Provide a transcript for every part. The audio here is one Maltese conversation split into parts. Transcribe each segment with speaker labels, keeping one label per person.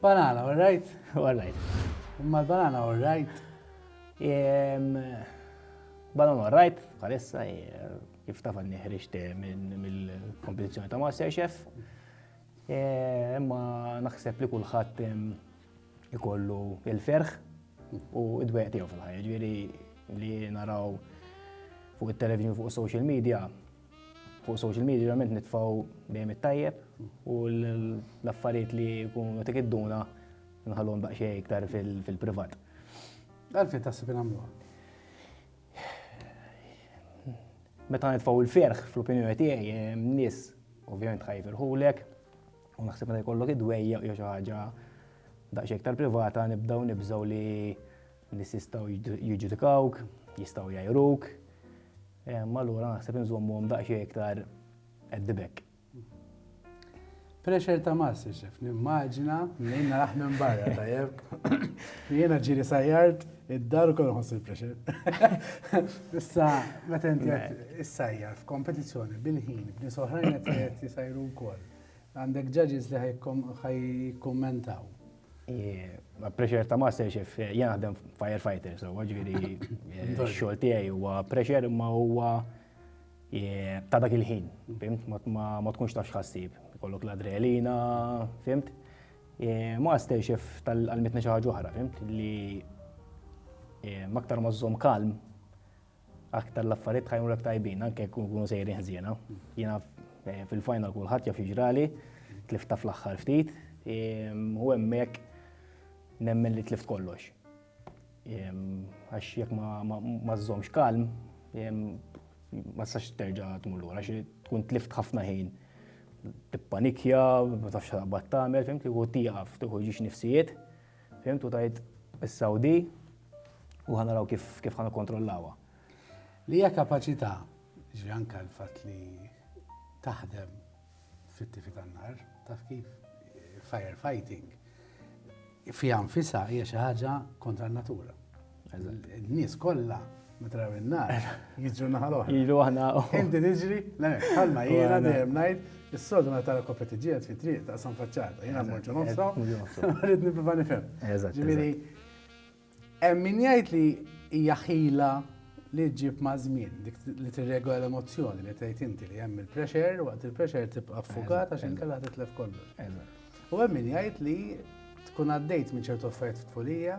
Speaker 1: Banana, all right? All right.
Speaker 2: Imma l-banana,
Speaker 1: all right?
Speaker 2: Banana, all right? Għalissa, kif taf għanni ħriġt eh, mill-kompetizjoni ta' Masterchef. Eh, imma naħseb li kullħat ikollu il-ferħ u id-dweq tiegħu fil-ħajja. Ġieri li naraw fuq it-televizjoni fuq social media Fuq social media ġerament nitfaw dejjem it-tajjeb u l-affarijiet li jkunu tik id-duna nħallhom daqsxejn iktar fil-privat.
Speaker 1: Għalfejn taħseb nagħmluha?
Speaker 2: Meta nitfaw il-ferħ fl-opinjoni tiegħi nies ovvjament ħajfirħulek u naħseb meta jkollok id-dwejja jew xi ħaġa daqsxejn iktar privata nibdew nibżgħu li Nies jistgħu jiġġudikawk, jistgħu jgħajruk, imma allura naħseb inżommuhom daqsxejn iktar at the back. Pressure
Speaker 1: ta' master chef, nimmaġina minn naraħ minn barra tajjeb. Jiena ġiri sajjart id-dar u kollu ħossu l-pressure. Issa, meta inti issajjar f'kompetizzjoni bil-ħin, b'nies oħrajn qed jisajru wkoll. Għandek ġaġis li ħajkommentaw.
Speaker 2: Ma pressure ta' master chef, jien naħdem firefighter, so ġviri xogħol tiegħi huwa pressure imma huwa ta' dak il-ħin, fimt, ma tkunx tafx ħassib, kollok l-adrenalina, fimt. Master chef tal-mitna xi ħaġa oħra, fimt, li maktar ma żżomm kalm, aktar l-affarijiet ħajmurek tajbin, anke jkun kunu sejrin ħżiena. Jiena eh, fil-final kulħadd jaf jiġrali, tlifta fl-aħħar ftit, ehm, u hemmhekk nemmen li tlift kollox. Ehm, għax jekk ma żżomx kalm, ehm, ma sax terġa' tmur lura, għax tkun tlift ħafna ħin tippanikja, ma tafx taqbad tagħmel, fimti, u tieqaf, tieħu ġiex nifsijiet. Fhimt u tajt issa u di u ħa naraw kif kif ħa nikkontrollawha. Li
Speaker 1: hija kapaċità, ġifieri anke l-fatt li taħdem fit-tifi tan-nar, taf kif firefighting fiha nfisha hija xi ħaġa kontra n-natura. N-nies kollha meta raw in-nar jiġu naħa l-oħra. Jiġu aħna. Inti
Speaker 2: tiġri,
Speaker 1: le, bħalma jiena dejjem ngħid, is-soltu meta tara koppja tiġġieled fi triq taqsam faċċata. Jiena mmorġu nofsa, rrid nipprova nifhem. Ġifieri, hemm min jgħid li hija ħila li ġġib ma' żmien, dik li tirregola l-emozzjoni li tgħid inti li hemm il-pressure, waqt il-pressure tibqa' ffukat għax inkella titlef kollu. U hemm min jgħid li tkun għaddejt minn ċertu affarijiet f'tfulija,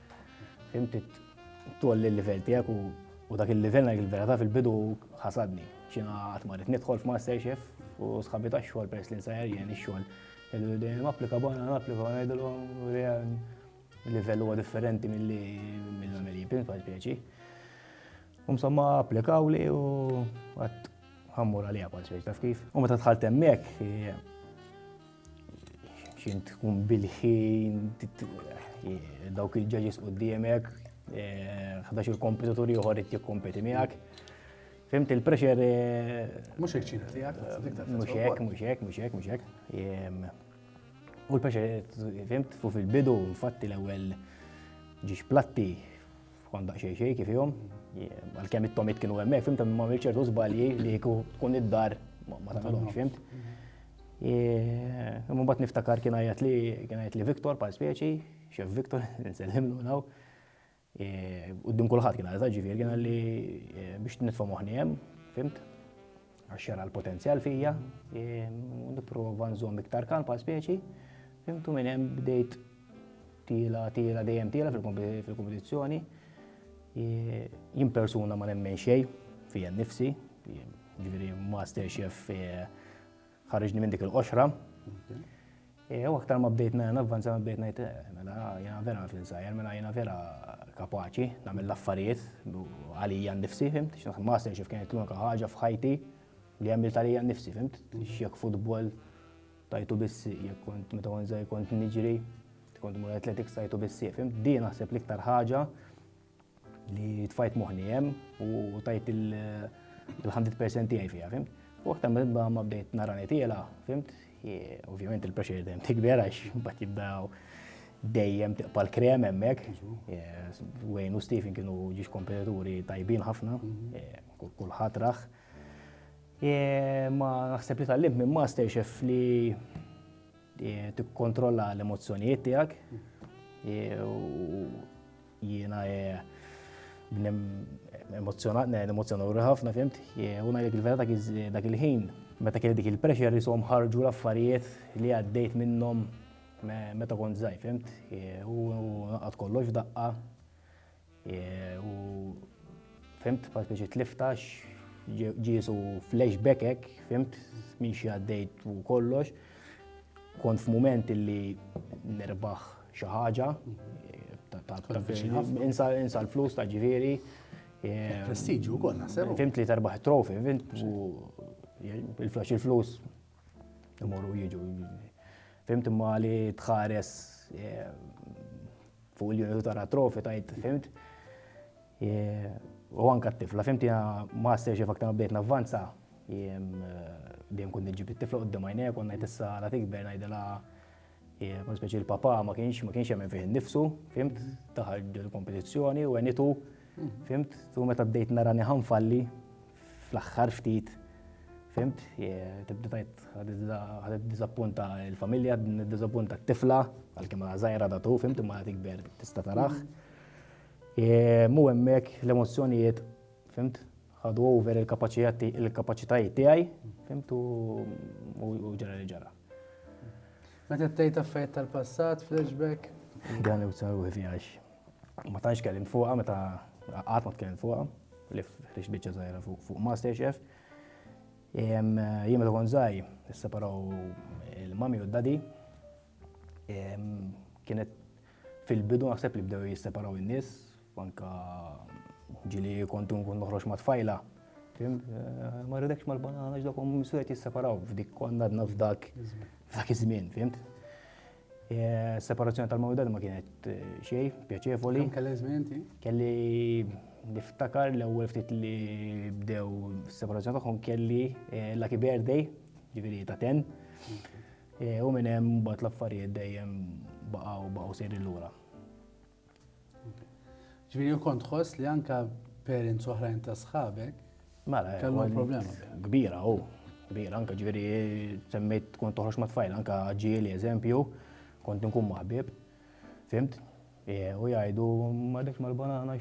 Speaker 2: Inti tolli l-livell tiegħek u dak il-livell ngħid il-verità fil-bidu ħasadni. Xina qatt ma rrid nidħol f'Masterchef u sħabi ta' xogħol peress li nsajjar jien ix-xogħol. Dejjem applika bona, applika bona ngħidilhom livell huwa differenti milli mill-għamel jibin bħal pjaċi. Umsomma applikaw li u għat ħammur għalija bħal pjaċi taf kif. U meta tħalt hemmhekk Xint tkun bil-ħin, dawk il-ġaġis u d-diemek, xdax il-kompetitur juħor it kompeti miegħek. Fimt il-pressure. Eh, mux hekk
Speaker 1: ċina tijak, mux hekk, mux
Speaker 2: hekk, mux hekk, mux hekk. U l-pressure, fimt, fu fil-bidu, infatti l-ewel ġiġ platti, Kont daqsxejn xejn kif jom, għalkemm it-tomit kienu hemmhekk, fimt ma għamil ċertu żbalji li jkun tkun id-dar ma tagħmilhomx, fimt. Imma mbagħad niftakar kien għajat li kien għajat li Viktor bħal speċi, xef Viktor, nsellimlu naw. Uddim kulħadd kien għajat ġifier kien għalli biex nitfa' moħħni hemm, fimt. Għax jara l-potenzjal fija, nipprova nżomm iktar kalm pa' speċi, fimtu minn hemm bdejt tila, tila, dejjem tila fil-kompetizzjoni. Jien persuna ma nemmen xej fija nifsi, ġifieri master chef eh, ħarġni minn dik il-qoxra. Eh, u aktar ma bdejt mela navvanza ma bdejt ngħid eh, mela jiena vera naf insajr, mela jiena vera kapaċi nagħmel l-affarijiet għalija nnifsi, fimt? X'naħseb master xif kienet l-unika ħaġa f'ħajti li għamilt għalija nnifsi, fimt? X'jekk futbol tajtu bissi, jekk kont meta kont żgħir kont niġri, kont mur athletics tajtu bissi, fimt? Di naħseb l-iktar ħaġa li tfajt moħni hemm u tajt il-100% tiegħi fiha, fim? U aktar mibba ma bdejt nara nitila, fimt? Ovvjament il-pressure dejjem tikber għax mbagħad jibdaw dejjem tiqpa l-krem hemmhekk. Wayne u Stephen kienu ġiex kompetituri tajbin ħafna, mhm. kulħadd raħ. Ma naħseb li tal-lim minn master chef li tikkontrolla l-emozzjonijiet tiegħek mhm. Jiena bnem emozzjonat, ne, emozzjonat u ħafna fimt, u ngħidlek il-vera dak il-ħin, meta kelli dik il-pressure jisom ħarġu l-affarijiet li għaddejt minnhom meta kont żgħir, fimt, u naqgħod kollox daqqa, u fimt, pa' speċi tliftax, ġiesu flashback hekk, fimt, minn xi għaddejt u kollox, kont f'mument li nerbaħ Xi ħaġa insa l-flus ta' ġifieri. Eh, Prestiġu
Speaker 1: wkoll naħseb. Fimt li terbaħ trofi,
Speaker 2: fimt il-flus il-flus imorru jiġu. Fimt imma li tħares eh, fuq il-jonu tara trofi tajt, fimt. Eh, u anka t-tifla, fimt jena master xef aktar bdejt navvanza, jem dejjem kun nġib it-tifla qoddim għajnek, u najt issa la tikber najdela Mod speċi l-papa ma kienx ma kienx jemmen fih innifsu, fimt, daħal il-kompetizzjoni u għenitu, fimt, tu meta bdejt narani ħanfalli fl-aħħar ftit, fimt, tibda tajt ħadet dizappunta il-familja, dizappunta t-tifla, għal-kem zaħira da tu, fimt, ma tikber tista tarax. Mu emmek l-emozjonijiet, fimt, ħadu over il-kapacitajiet tiegħi, fimt, u ġara li ġara.
Speaker 1: Meta tgħid affarijiet tal-passat, flashback. Dan u saru
Speaker 2: għax ma tantx kellim fuqha meta qatt ma tkellim fuqha li ħriġ biċċa żgħira fuq Masterchef. Jien meta kont żgħir, isseparaw il-mami u d-dadi. Kienet fil-bidu naħseb li bdew jisseparaw in-nies U anke ġieli kont nkun noħroġ ma' tfajla, fim, ma rridekx mal-banana ġdak u misu qed jisseparaw f'dik kont għadna f'dak f'dak iż-żmien, fimt? Separazzjoni tal-mawdad ma kienet xej, pjaċevoli. Kemm kellek żmien inti?
Speaker 1: Kelli
Speaker 2: niftakar l-ewwel ftit li bdew is-separazzjoni tagħhom kelli lucky birthday, ġifieri ta' ten. U minn hemm mbagħad l-affarijiet dejjem baqgħu baqgħu sejrin lura.
Speaker 1: Ġviri, u kont ħoss li anka parents oħrajn ta' sħabek. Mela, kellu
Speaker 2: problema.
Speaker 1: Kbira, u.
Speaker 2: Kbira, anka ġviri, semmejt kont toħroġ ma' tfajl, anka ġieli, eżempju, kont nkun maħbib. Fimt? E, u jgħidu, ma dekx mal-banana,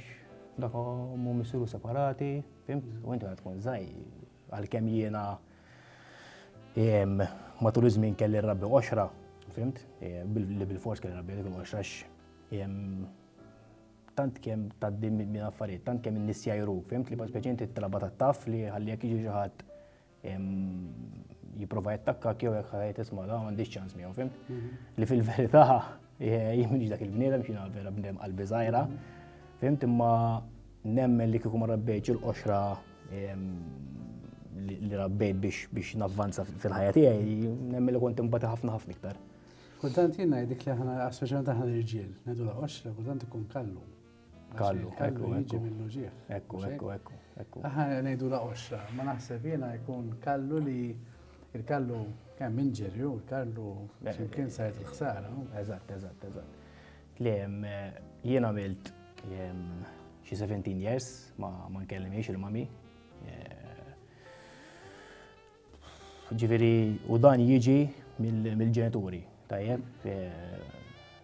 Speaker 2: dak mu missiru separati, fimt? U inti għad tkun zaj, għal-kem jiena matul iż-żmien kelli rabbi oxra, fimt? E, li bil-fors kelli rabbi dik l-oxra, tant kemm tgħaddi minn affarijiet, tant kemm in-nies jajruk, fimt li speċi inti t-talaba ta' taf li ħalli jekk jiġi xi ħadd jipprova jattakka jew jekk ħajt isma' da m'għandix ċans miegħu, fimt? Mhm. Li fil-verità jien m'iniex dak il-bniedem xi vera bniedem qalbi żgħira, fimt imma nemmen li kieku ma rabbejtx il-qoxra li rabbejt biex navvanza fil-ħajja tiegħi, nemmen li kont imbagħad ħafna ħafna iktar. Kultant jien
Speaker 1: ngħidlek li aħna, speċjalment aħna l-irġiel, ngħidu la qoxra, kultant ikun kallu. Kallu,
Speaker 2: kallu jiġi
Speaker 1: mill-uġieħ. Ekku, ekku, ekku,
Speaker 2: ekku. Aħna ngħidu la
Speaker 1: qoxra, ma naħseb jiena jkun kallu li il-kallu kemm inġerju, il-kallu ximkien sajt il-ħsara. Eżatt, eżatt,
Speaker 2: eżatt. Li jien għamilt xi 17 years ma nkellimiex il-mami. Eh, Ġifieri u dan jiġi mill-ġenituri, tajjeb,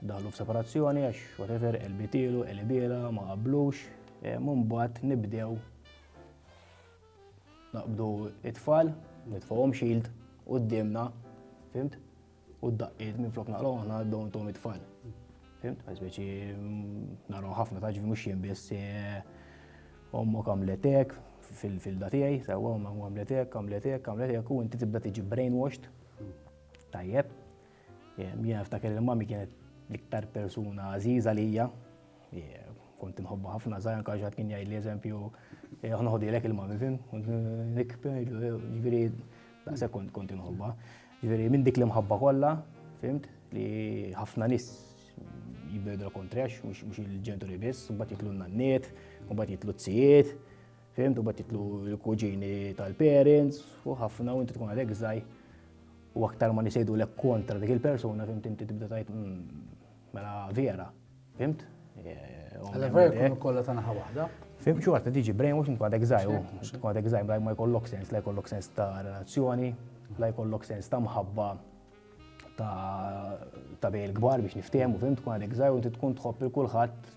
Speaker 2: daħlu f'separazzjoni għax whatever elbitilu, elbiela, ma qablux, mbagħad nibdew naqbdu it-tfal, nitfgħuhom xild qudiemna, fimt? U d-daqqiet minn flok naqraw aħna dawn tom it-tfal. Fimt, għazbeċi naraw ħafna taġvi mux jien biss eh, ommu kamletek fil-datijaj, sewa ommu kamletek, kamletek, kamletek, u inti tibda tiġi brainwashed. Tajjeb, eh, jien ftakar il-mami kienet l-iktar persuna għaziza lija, Kont inħobba ħafna żgħir anke xi ħadd kien jgħidli eżempju aħna ħodilek il-mami fim, nikber, ġifieri daqshekk kont kont inħobba. Ġifieri minn dik l-imħabba kollha, fimt, li ħafna nies jibbedu kontrex, mhux il-ġenturi biss, u mbagħad jitlu n-nanniet, u mbagħad jitlu t-sijiet, fimt, u mbagħad jitlu l-kuġini tal-parents, u ħafna u inti tkun għadek żgħir u aktar ma nisejdu l kontra dik il-persuna, fimt, inti tibda tajt, hmm, Mela vera, fimt? Għalla
Speaker 1: vera jkunu kollha ta' naħa waħda. Fim xi waħda tiġi
Speaker 2: brainwash int għadek żgħir, int għadek żgħir bla ma jkollok sens, la jkollok sens ta' relazzjoni, la jkollok sens ta' mħabba ta' bej il-kbar biex niftehmu, fim tkun għadek żgħir u inti tkun tħobb il kulħadd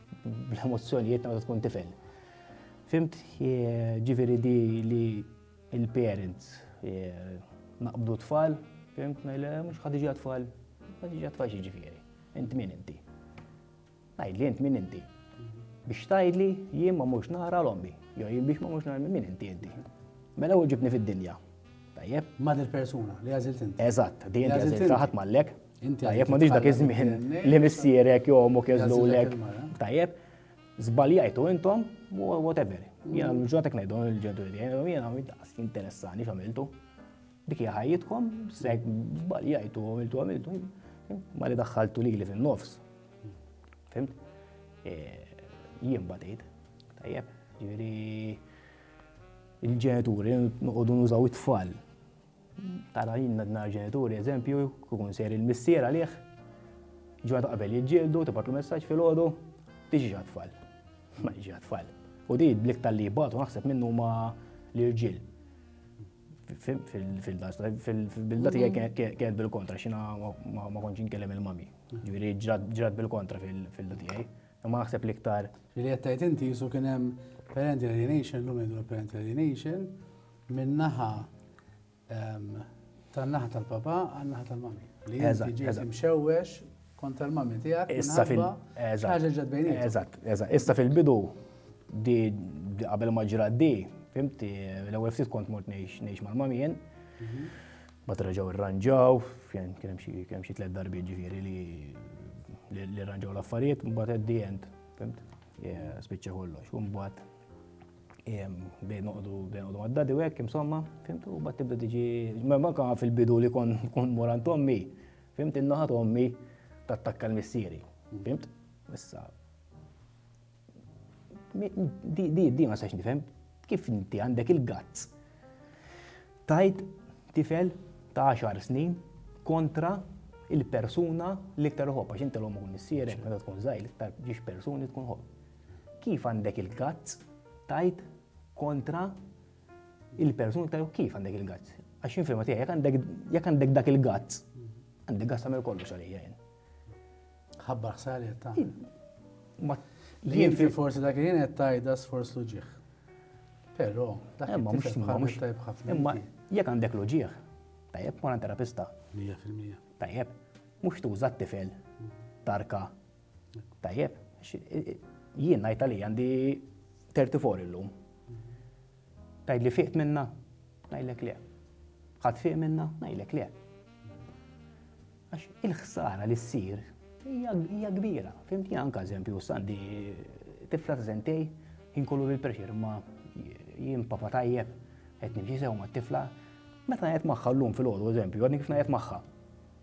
Speaker 2: bl-emozzjonijiet ta' tkun tifel. Fimt, ġifieri di li Il-parents naqbdu t-tfal, fimt, ngħidli mhux ħadd iġi tfal ħadd iġi tfal x'jiġifieri. Int min inti? Ngħidli int min inti? Biex tgħidli jien ma mhux nara l-ommi, jew jien biex ma mhux nara min inti inti. Mela u ġibni fid-dinja. Tajjeb. Ma dil-persuna
Speaker 1: li għażilt inti. Eżatt, di inti għażilt
Speaker 2: ħadd mallek. Tajjeb, ma dak iż-żmien li missierek jew omok jeżlulek. Tajjeb. Zbaljajtu intom, whatever. Jena l-ġunatek najdu l-ġenituri tiegħi, jena daqs interessani x'għamiltu. Dik hija ħajjitkom, sek zbaljajtu, għamiltu għamiltu. Ma li daħħaltu lili fin-nofs. Fimt? E, jien batejt. Tajjeb, ġifieri il-ġenituri noqogħdu nużaw it-tfal Tara jien nar ġenituri eżempju, kukun ser il-missier għalih, ġurnata qabel jiġġieldu, tibgħatlu messaġġ fil-ħodu, tiġi għat-tfal. Ma jiġi għat-tfal. U di blik tal-li jibgħatu naħseb minnu ma l-irġiel. Fil-bilda tiegħi kienet bil-kontra, xina ma konċ inkellem il-mami. Ġifieri ġrat bil-kontra fil-bilda tiegħi. Imma naħseb l-iktar. Li qed tgħid inti
Speaker 1: jisu kien hemm parent alienation, l-lum jgħidu parent alienation, Minn naħa tan-naħa tal-papa għal naħa tal-mami. Li inti ġejt imxewwex kontra l-mami tiegħek. Issa fil ħaġa ġed bejni. Eżatt, eżatt. Issa fil-bidu
Speaker 2: di qabel ma ġra di, fimti, l-ewwel ftit kont mort ngħix mal-mami jien. Mhm. Bat reġgħu irranġaw, kien hemm xi kien xi tliet darbiet ġifieri li li rranġaw l-affarijiet, mbagħad at the end, fimt? Spiċċa kollox, u mbagħad Bdejn noqdu, bdejn noqdu għaddadi u hekk, insomma, fimtu, u bat tibda tiġi, ma manka fil-bidu li kon kon morant ommi, fimt innaħat ommi tattakka l-missieri, fimt? Issa. Di, di, di ma sax nifhem, kif inti għandek il-gazz tajt tifel ta' 10 snin kontra il-persuna li iktar ħobb, għax inti l-ommu missierek, meta tkun zaħi, iktar ġiex persuni tkun ħobb. Kif għandek il-gazz tajt kontra il-persuna ta' kif għandek il-gazz? Għax infirma tiegħi, jekk għandek dak il-gazz, għandek gazz tagħmel kollox għalija jien. Ħabbar
Speaker 1: ħsari ta' Jien fi forsi dak jien qed tajda sforz luġieħ. Però, dak imma mhux mhux tajb ħafna. Imma jekk għandek
Speaker 2: luġieħ, tajjeb ma terapista. 100%.
Speaker 1: Tajjeb,
Speaker 2: mhux tuża t-tifel tarka Tajjeb, jien ngħid għalija għandi 34 illum. Tgħid li fiqt minna? Ngħidlek le. Ħadd fiq minna? Ngħidlek le. Għax il-ħsara li ssir hija kbira. Fimti anka eżempju sandi tifla ta' sentej jinkollu bil-pressure ma jien papa tajjeb qed nimxi sew ma' tifla. Meta qed magħha llum fil-għodu eżempju, għadni kif qed magħha.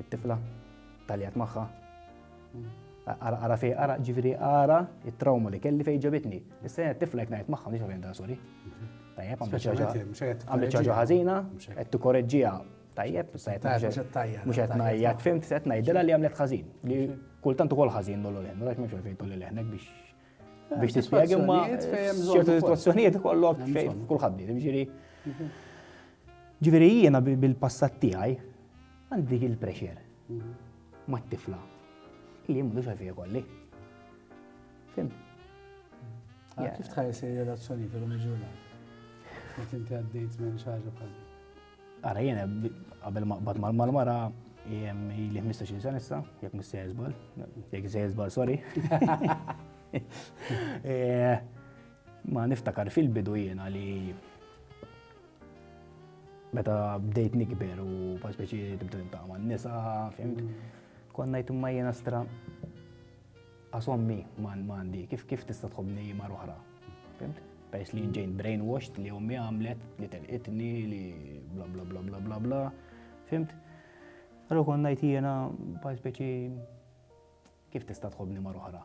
Speaker 2: It-tifla taljat magħha. Ara, ara fej, ara, ġifiri, ara, it-trauma li kelli fej ġabitni. Issa t-tifla jek najt magħha, nix għavjen da, sorry. Mhm. Tajjeb, għamlet ċaġa ħazina, għed t-korreġġija, tajjeb, mux għed najja, t-fim, t-set najdela li għamlet ħazin. Li kultant ukoll ħazin dollu l-ħen, għax mux għafejtu li l-ħenek biex biex t-spiegħi, ma ċertu situazzjonijiet kollok kullħaddi, ġiri. Mhm. Ġiri jiena bil-passat tijaj, Għandi il-prexer mat-tifla li jien m'għandux għalfejn ikolli. Fim?
Speaker 1: Ah, kif tħares ir-relazzjoni fil-lum il-ġurnata? Meta inti għaddejt minn xi ħaġa bħal Ara jiena
Speaker 2: qabel ma qbad mal-mara li 15 sena issa, jekk mis se jizbal, jekk se jizbal, sorry. Eh, ma niftakar fil-bidu jiena li Meta bdejt nikber u bħal speċi tibda niltaqa' man-nisa, fimt, kont ngħid imma jiena stra għas ommi m'għandi, kif kif tista' tħobbni mar oħra, fimt? Peress li ġejn brainwashed li ommi għamlet, li telqitni, li bla bla bla bla bla bla, fimt? Allora kont ngħid jiena bħal speċi kif tista' tħobbni mar oħra.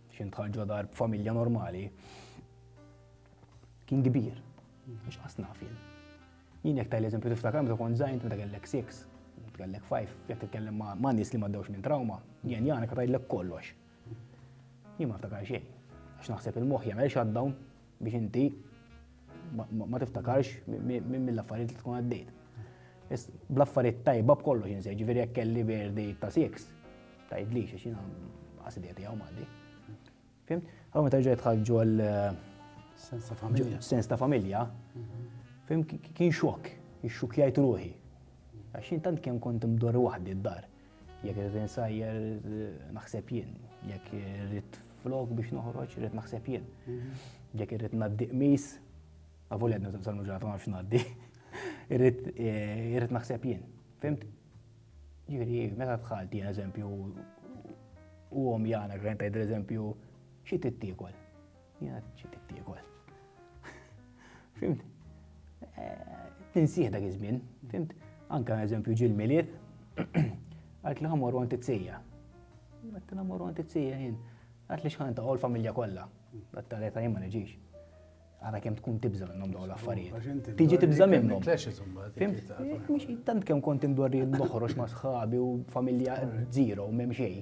Speaker 2: Xi dħal ġo dar b'familja normali kien kbir, għax qas naf jien. Jien jekk tajl eżempju tiftakar meta kont żgħin meta kellek 6, kellek 5, jekk titkellem ma' nies li m'għaddewx minn trauma, jien jagħna ka tgħidlek kollox. Jien ma niftakar xejn, għax naħseb il-moħħ jagħmel shutdown biex inti ma tiftakarx minn mill-affarijiet li tkun għaddejt. Bl-affarijiet tajba b'kollox insej, ġifieri jekk kelli verdi ta' sieks, tgħidli xi xina qasidija tiegħu m'għandi. Fim? Għaw meta ġejt ħarġu għal eh, sens ta' familja. Sens ta' familja. Mhm. Fim kien xokk, ix-xukjajt ruħi. Għax intant kemm kont imdor waħdi d-dar. Jekk irrid insajjer, naħseb jien. Jekk irrid flok biex noħroġ, irrid naħseb jien. Mhm. Jekk irrid naddi qmis, għavul għedna t salmu ġurnata ma nafx naddi, eh, irrid naħseb jien. Fimt? Ġiri, meta tħalt jien eżempju, u għom jana, għrenta id eżempju, xie t-tikol? Jena ċi tittiegol. Fimt? Tinsieħ dak iż-żmien, fimt? Anka eżempju ġil milied għalt li ħamor għant it-sija. Għalt li ħamor għant it-sija jien. Għalt li xħan ta' għol familja kolla. Għalt ta' reta jimma neġiġ. Għara kem tkun tibza minnom daw l-affarijiet. Tiġi tibza minnom. Tant kem kont indorri noħroġ ma' sħabi u familja zero u memxej.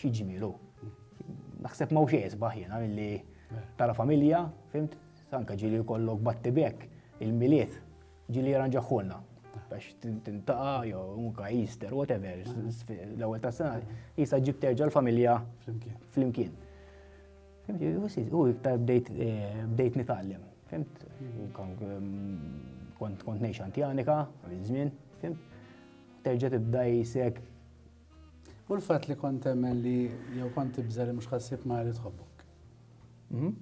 Speaker 2: Xi ġmielu. Naħseb ma' xejn isbaħ jiena milli tara familja, fimt, anke ġieli jkollok batti bek il-miliet ġieli jaranġaħħulna biex tintaqa jew unka Easter, whatever, l-ewwel ta' sena, jisa ġib terġa' l-familja flimkien. U iktar bdejt eh, nitgħallem, fimt? Kont kont ngħix antjanika, żmien, fimt? Terġa' tibda jisek
Speaker 1: U l-fatt li kont temmen li jew kont tibża li mhux ħassib ma li tħobbok. Mhm.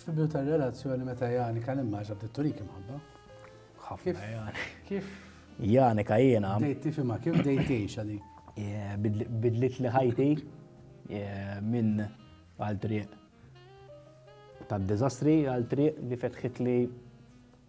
Speaker 1: Fibju tar-relazzjoni meta Jani kan immaġa bdiet turik imħabba. Ħafna Jani. Kif?
Speaker 2: Jani ka jiena. Dejt tifhimha kif dejt
Speaker 1: tgħixha dik. Bidlit
Speaker 2: li ħajti minn għal triq tad-diżastri għal triq li fetħit li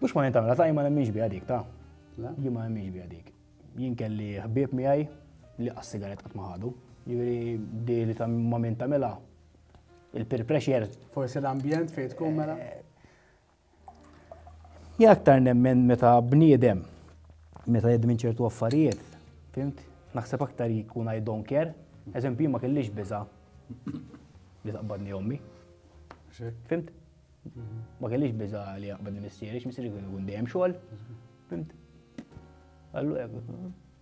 Speaker 2: Mhux ma jintamela, ta' jien ma nemminx biha dik ta'. Jien ma nemminx biha dik. Jien kelli ħbieb miegħi li qas sigaret qatt ma ħadu. Jiġri di li ta' ma min tagħmilha il-peer pressure. Forsi l-ambjent
Speaker 1: fejn tkun mela.
Speaker 2: Eh, jien aktar nemmen meta bniedem meta jedd minn ċertu affarijiet, fimt? Naħseb aktar jkun I don't care. Eżempju, ma kellix biża li taqbadni ommi. Fimt? Ma kellix biża li jaqbad il-missieri, x-missieri kien ikun dejjem xogħol. Fimt? Għallu jek,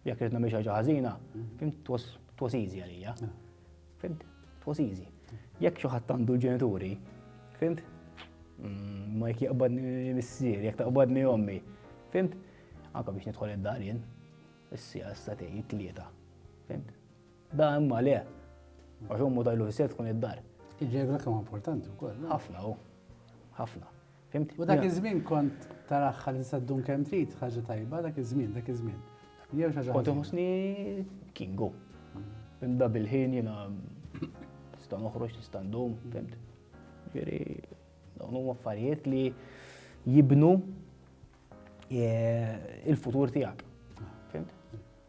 Speaker 2: jek rritna miex ħaġa ħażina, fimt, twas easy għalija. Fimt? Twas easy. Jek xoħat għandu l-ġenituri, fimt? Mm, ma jek jaqbad missieri, jek taqbad mi ommi. Fimt? Anka biex nidħol id-dar jien, s-sija s-satej, it-tlieta. Fimt? Da imma le. Għax ummu tajlu fis tkun id-dar.
Speaker 1: Il-ġebra
Speaker 2: kemm importanti wkoll.
Speaker 1: Ħafna u. Ħafna.
Speaker 2: Fimt? U dak iż-żmien
Speaker 1: kont taraħ li tista' ddum kemm trid ħaġa tajba dak iż-żmien, dak iż-żmien. Jew xi Kont iħossni
Speaker 2: kingu. Fimt da bil-ħin jiena nista' noħroġ, nista' ndum, fimt? Ġieri, dawn huma affarijiet li jibnu eh, il-futur tiegħek.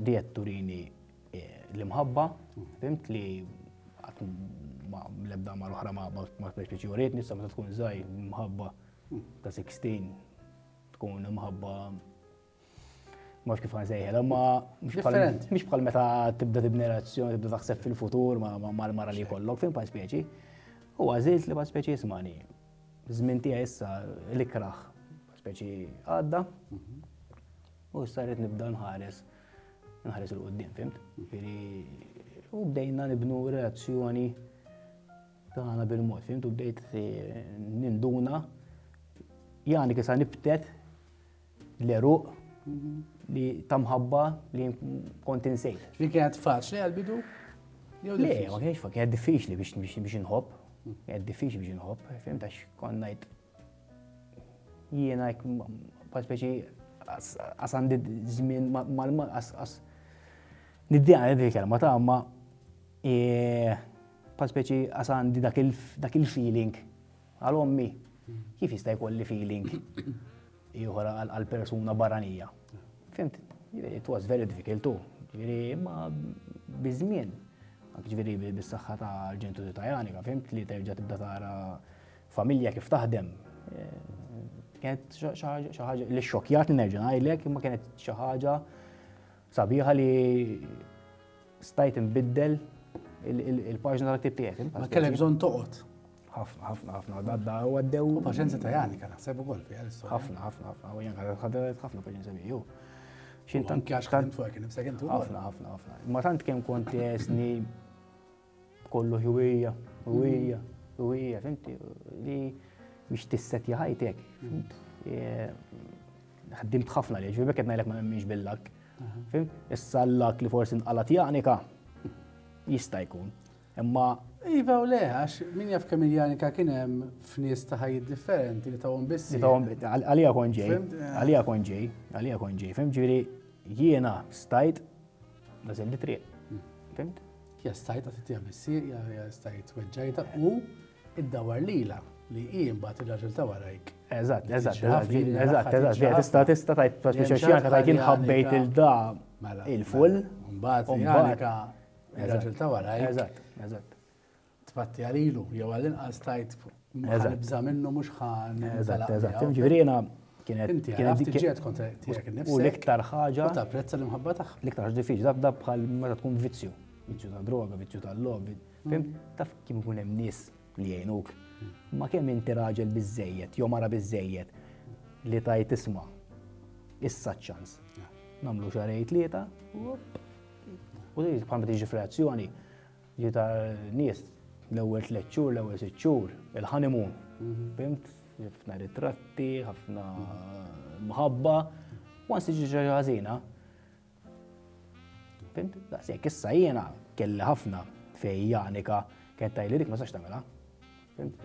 Speaker 2: Di qed turini l-imħabba, fimt li l-ebda ma l-oħra ma ma speċi ġuriet, nissa meta tkun żgħir imħabba ta' 16 tkun imħabba mhux kif nsejħel, ma mhux bħal meta tibda tibni relazzjoni, tibda taħseb fil-futur ma l-mara li jkollok, fim bħal speċi. U għażilt li bħal speċi jismani. Żmien tiegħi issa l-ikraħ speċi għadda. U issa rrid nibda nħares nħares il-qoddim, fimt? Jiġifieri, u bdejna nibnu relazzjoni tagħna bil-mod, fimt? U bdejt eh, ninduna jani kisa nibtet l-eruq mhm. li tamħabba li kont insejt. Li kienet faċli
Speaker 1: għal-bidu? Le,
Speaker 2: ma kienx faċli, kienet diffiċli biex nħobb, mhm. kienet diffiċli biex nħobb, fimt? Għax konnajt Jiena hekk bħal speċi għas għandi żmien għas niddiha għandi kelma ta' ma bħal speċi għas għandi dak il-feeling għal ommi kif jista' jkolli feeling ieħor għal persuna barranija. Fimt? It was very difficult too. Ġifieri ma biż-żmien, ġifieri bis-saħħa ta' ġentu ta' Janika, fimt li terġa' tibda tara Familja kif taħdem. Kienet xi ħaġa li xokjatni nerġa' ngħidlek, imma kienet xi ħaġa sabiħa li stajt inbiddel il-paġna tal-ktib tiegħek. Ma kellek bżonn toqgħod.
Speaker 1: ħafna, ħafna, ħafna,
Speaker 2: għadda u għaddew. U paċenza ta' jani kan
Speaker 1: naħseb ukoll fi għal-istorja. ħafna, ħafna, ħafna, u jani kan
Speaker 2: ħadret ħafna paċenza miegħu. Xintan
Speaker 1: kjax kan fuq kien imsek intu. ħafna, ħafna, ħafna. Ma
Speaker 2: tant kemm kont jesni Kollu ħwija, ħwija, ħwija, fimti, li biex tisset jħajtek. Ħaddimt ħafna li ġvibek qed ngħidlek ma nemminx billak. Fim? Issa l-lak li forsi nqalat janika jista' jkun. Imma Iva u le,
Speaker 1: għax min jaf kemm il-janika kien hemm f'nies ta' ħajjiet differenti li tawhom biss. Għalija kon
Speaker 2: ġej, għalija kon ġej, għalija kon ġej, fim ġieli jiena stajt Nażel li triq. Fimt? Ja stajt
Speaker 1: għatitija missir, ja stajt weġġajta u id-dawar lila li hi mbagħad il-raġel ta' warajk. Eżatt, eżatt,
Speaker 2: eżatt, eżatt, tista' tista' tajt trasmissjoni tajt inħabbejt il-da mela, il-full. Mela, mbagħad
Speaker 1: il-raġel ta' warajk. Eżatt, eżatt.
Speaker 2: tpatti
Speaker 1: għalilu, jew għall-inqas tajt nibża minnu mhux ħan. Eżatt, eżatt. Ġifieri
Speaker 2: jiena kienet kienet kontra tiegħek
Speaker 1: innifsek. U l-iktar ħaġa. U
Speaker 2: tapprezza l-imħabba
Speaker 1: tagħha. L-iktar ħaġa diffiċli dak dak
Speaker 2: bħal meta tkun vizzju. Vizzju ta' droga, vizzju ta' lobby. Fim, taf kien ikun hemm nies li jgħinuk. Ma kemm inti raġel biżejjed, jew mara biżejjed li tajt isma' issa ċans. Namlu xarej tlieta, u bħal ma tiġi f'reazzjoni, Ġi ta' nies l-ewwel tliet xhur, l-ewwel sitt xhur, il-honeymoon. Fimt? Ħafna ritratti, ħafna mħabba, ma siġi ġaġa ħażina. Fimt? Daqshekk issa jiena kelli ħafna fej Janika kien tajli dik ma sax tagħmilha. Fimt?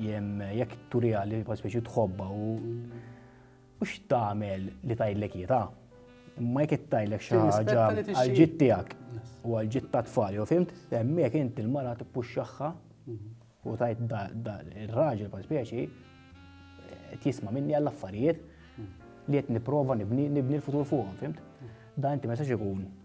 Speaker 2: Jem jekk turija li speċi tħobba u u x'tagħmel li tajlek jita. Imma jekk tajlek xi ħaġa għal-ġid tiegħek u għal-ġid ta' tfal, jew fimt, hemmhekk inti l-mara tippuxxaħħa mhm. u tajt ir-raġel pa' speċi qed jisma' minni għall-affarijiet mhm. li qed nipprova nibni l-futur fuqhom, fimt? Mhm. Dan inti ma jistax ikun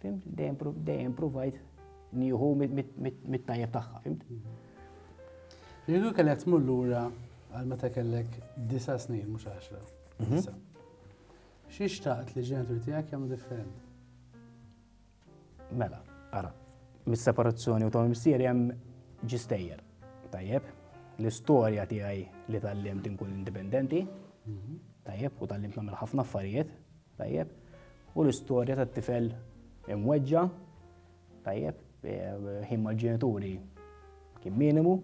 Speaker 2: Fimt? Dejjem provajt nieħu mit-tajjeb tagħha, fimt?
Speaker 1: Jekk kellek tmur lura għal meta kellek disa' snin mhux għaxra. Mhm. Xi xtaqt li ġenituri tiegħek jagħmlu differenti?
Speaker 2: Mela, ara, mis-separazzjoni u tom missieri hemm ġistejjer. Tajjeb, l-istorja tiegħi li tal-limt inkun indipendenti, mhm. tajjeb, u tal-limt nagħmel ħafna affarijiet, Tajjeb. U l-istorja tat-tifel imweġġa', tajjeb, ħin mal-ġenituri kien minimu.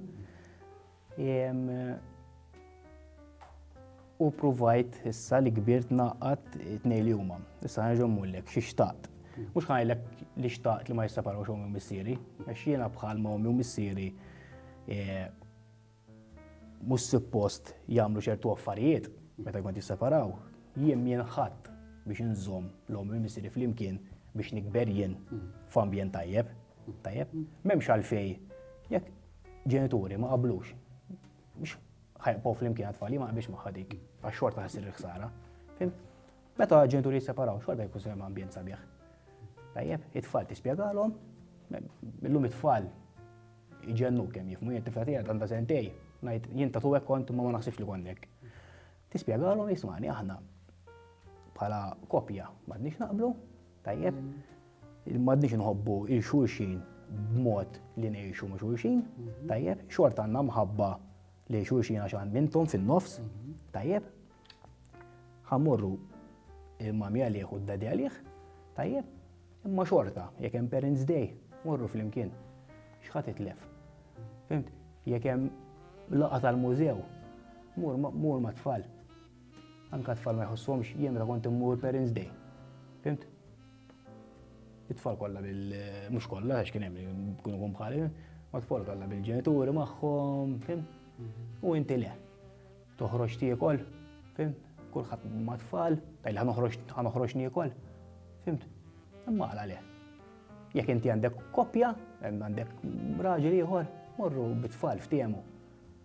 Speaker 2: U provajt issa li kbirt naqqat it-tnej li huma. Issa ħanġu mullek xi xtaqt. Mhux ħajlek li xtaqt li ma jisseparawx ommi u missieri, għax jiena bħal ma ommi u missieri e, mhux suppost jagħmlu ċertu affarijiet meta jkun qed jisseparaw, jien mien ħadd biex inżomm l-omm u missieri flimkien biex nikber jien f'ambjent tajjeb. Tajjeb? M'hemmx għalfej jekk ġenituri ma qablux biex ħajqbgħu flimkien għat-tfal, ma qabilx magħha dik, għax xorta ħassir il-ħsara. Meta ġenituri jisseparaw, xorta jkun se ambjent sabiħ. Tajjeb, it-tfal tispjegalhom, illum it-tfal Iġennu kemm jifmu jien tifla tiegħek għandha sentej, ngħid jien ta' tuwek kont imma ma naħsibx li konnek. Tispjegalhom jismani aħna bħala kopja m'għadniex naqblu, tajjeb, m'għadniex nħobbu il xulxin b'mod li ngħixu ma' xulxin, mhm. tajjeb, xort għandna mħabba li xulxin għax għandintom fin-nofs, mhm. tajjeb, Ħamorru il-mami għalih u d-dadi għalih, tajjeb, imma xorta, jekk hemm Parents Day, morru flimkien. X'ħadd itlef. Fimt, jekk hemm laqa tal-mużew, mur ma' tfal. Anka tfal ma jħossuhomx jien meta kont immur Parents Day. Fimt? It-tfal kollha bil mhux kollha għax kien hemm kun ikun bħali, ma tfal kollha bil-ġenituri magħhom, fimt? U inti le. Toħroġ tiekol, fimt? Kulħadd ma' tfal, tajli ħa noħroġ niekol, fimt? Imma għala le? Jekk inti għandek koppja, għandek raġel ieħor, morru bit-tfal f'tiemu.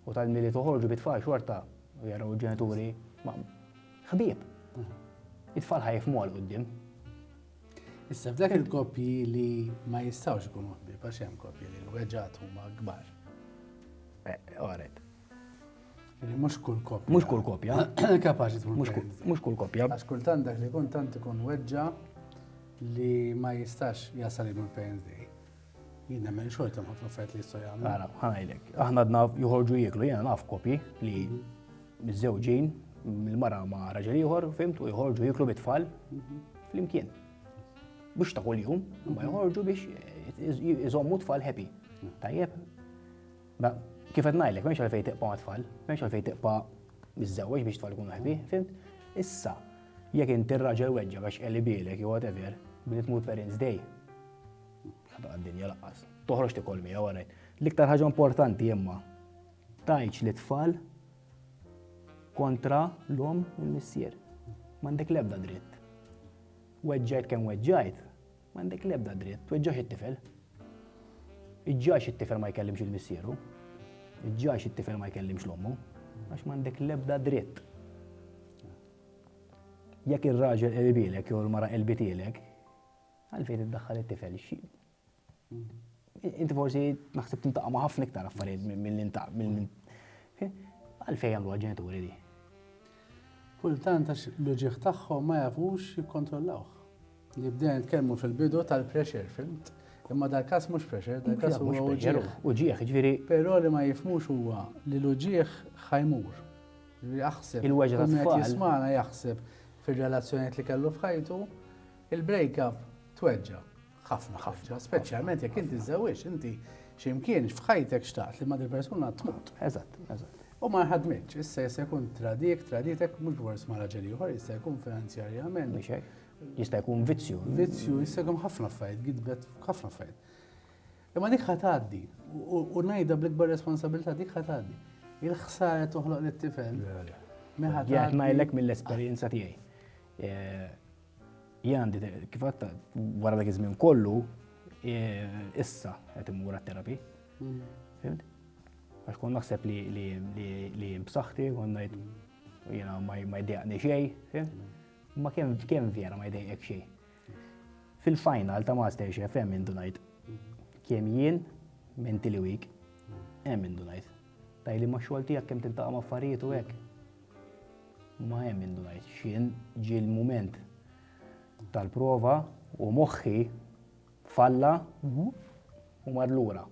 Speaker 2: U tal-mili toħorġu bit-tfal xorta, u jaraw ġenituri, ma' ħbieb. Mhm. It-tfal ħajfmu għal qoddim.
Speaker 1: Issa f'dak il-koppji li ma jistawx ikunu ħbieb għax hemm koppji li l-weġġat huma kbar. Eh,
Speaker 2: Oret,
Speaker 1: Mux kull kopja. Mux kull kopja.
Speaker 2: Kapaxi tkun.
Speaker 1: Mux kull kopja. Għax
Speaker 2: kultant dak li kun
Speaker 1: tant ikun weġġa li ma jistax jasal il parents day. Jien nemmen xorta ma t-offert li jistaw jgħamlu. Għara, ħanajlek.
Speaker 2: Aħna għadna juħorġu jiklu, jena naf kopji li mhm. mizzewġin, il-mara ma raġel ieħor, fimt, u jħorġu jiklu bitfall mhm. fl-imkien. Bux ta' kull-jum, ma mhm. jħorġu biex jizommu tfal happy. Tajjeb, Ma kif qed ngħidlek, m'hemmx għalfejn tiqpa' mat-tfal, m'hemmx għalfejn tiqpa' miżżewweġ biex tfal ikunu ħbi, fimt? Issa, jekk inti r-raġel weġġgħek għax qelibielek jew whatever, billi tmur parents day, ħadaq għad-dinja laqqas. Toħroġ tikol miegħu għarajt. L-iktar ħaġa importanti imma tajċ li tfal kontra l-om u l-missier. M'għandek l-ebda dritt. Weġġajt kemm weġġajt, M'għandek l-ebda dritt tweġġax it-tifel. Iġġajx it-tifel ma jkellimx il-missieru. Iġġajx it-tifel ma jkellimx l-ommu. Għax m'għandek l-ebda dritt. Jekk ir-raġel qelbilek jew l-mara qelbitilek, għalfejn iddaħħal it-tifel xi. Inti forsi naħseb tintaqa' ma' ħafna iktar affarijiet milli ntaq milli għalfejn jagħmluha ġenituri di.
Speaker 1: Kultant għax l-uġigħ tagħhom ma jafux jikkontrollawh. Li bdejna nitkellmu fil-bidu tal-pressure, filmt? Imma dal-każ mhux pressure, dal-każ huwa uġigħ. Uġigħ, jiġifieri. Però
Speaker 2: li ma jifhmux
Speaker 1: huwa li l-uġigħ ħa jmur. Jaħseb. Il-weġgħa tat-tfal. Min qed
Speaker 2: jismagħna jaħseb
Speaker 1: fir-relazzjonijiet li kellu f'ħajtu, il-break up tweġġa'. Ħafna, ħafna, speċjalment jekk inti żżewġ, inti x'imkien f'ħajtek xtaqt li ma' dil persuna tmut. Eżatt, eżatt. U
Speaker 2: ma ħadmitx,
Speaker 1: issa jista' jkun tradik, traditek mhux bors ma' raġel ieħor, jista' jkun finanzjarjament. Jista' jkun vizzju. Vizzju, jista' jkun ħafna
Speaker 2: affarijiet,
Speaker 1: gidbet ħafna affarijiet. Imma dik ħataddi, u najda bl-ikbar responsabilità dik ħataddi. Il-ħsara toħloq l-tifel.
Speaker 2: Jgħid ma jellek mill-esperienza tiegħi. Eh, Jien għandi kif għatta wara dak iż-żmien kollu issa qed immur għat-terapi. Mm. Fimt? Għax kon naħseb li li b'saħħti kon ngħid jiena ma jdejqni xejn, fimt? Mm. Ma kemm kemm vera ma jdejqek xejn. Fil-final ta' Master Chef hemm indunajt mm. kemm jien minn tili week hemm indunajt. Tajli ma' xogħol tiegħek kemm tintaqa' ma' affarijiet u hekk. Ma hemm min ma jgħidx x'jien, ġie l-mument tal-prova u moħħi falla u mar lura.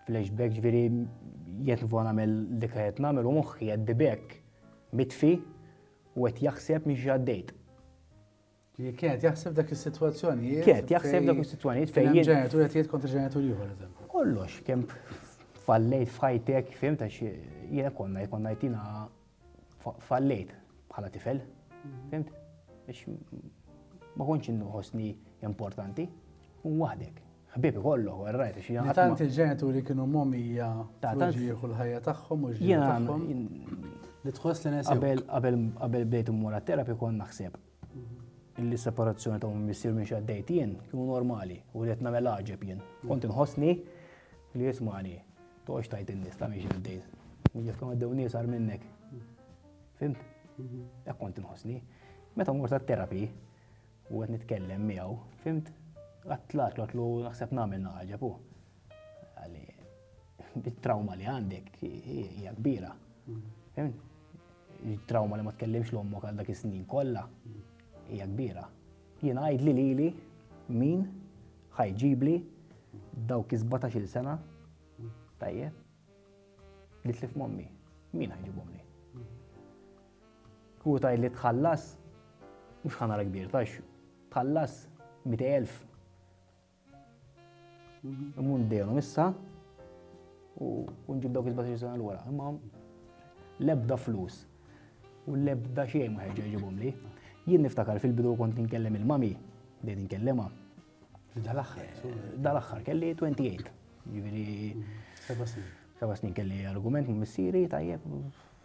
Speaker 2: Flashback ġifieri jekk nifgħu nagħmel dik qed nagħmel u moħħi qed bibek mitfi u qed jaħseb minn xi għaddejt. Li
Speaker 1: kienet jaħseb dak is-sitwazzjonijiet. Kienet jaħseb dak
Speaker 2: is-sitwazzjonijiet fejn. Fejn ġenitur qed jgħid kontra
Speaker 1: ġenitur ieħor eżempju. Kollox kemm
Speaker 2: fallejt f'ħajtek, fim ta' xi jiena konna jkollna jtina fallejt bħala tifel. Mhm. Fimt? Biex ma kontx inħossni importanti. U waħdek. Ħbieb kollu, għarrajt, xi jgħid. Tant il-ġenituri kienu
Speaker 1: momija ta' tant jieħu l-ħajja tagħhom u ġiegħu tagħhom. Li tħoss li Qabel qabel bdejt
Speaker 2: immur terapi kont naħseb illi separazzjoni ta' minn missier minn xaddejt jien kienu normali u li qed nagħmel għaġeb jien. Kont inħossni li jismani, toqgħodx tajt in-nies ta' minn xaddej. Jekk ma dew nies għar minnek. Fimt? Hekk kont inħossni. Meta mort għat-terapi u qed nitkellem miegħu, fimt? Għattlak l naħseb nagħmel naħġeb u. Bit-trauma li għandek hija kbira. Il-trauma li ma tkellimx l ommok għal dak is-snin kollha hija kbira. Jien għajd li lili min ħajġibli dawk iż-17 sena tajjeb li tlif mommi. Min ħajġibhom li? Hu tgħid li tħallas mhux ħanara kbir tax tħallas 200,000 Imur ndejhom issa u nġib dawk il-17 sena l-wara. Imma l-ebda flus u l-ebda xejn ma ħeġġa jġibhom li. Jien niftakar fil-bidu kont inkellem il-mami, bdejt inkellema. Dal-aħħar. Dal-aħħar kelli 28. Jiġifieri. Seba' snin. Seba' snin kelli argument ma' missieri tajjeb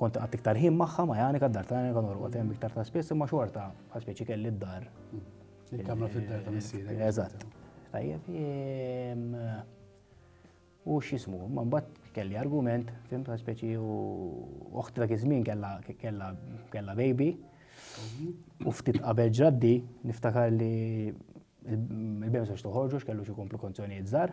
Speaker 2: Kont iqgħadd iktar ħin magħha ma' Janika, d-dar ta' Janika norqod hemm iktar ta' spiss imma xorta bħal speċi kelli d-dar. Il-kamra
Speaker 1: fid-dar ta' missierek. Eżatt. Tajjeb,
Speaker 2: u x'jismu, ma mbagħad kelli argument, fim ta' speċi u oħti dak iż-żmien kellha kellha kellha baby. U ftit qabel ġaddi niftakar li il-bemsa x'toħorġu x'kellu xi komplikazzjonijiet żgħar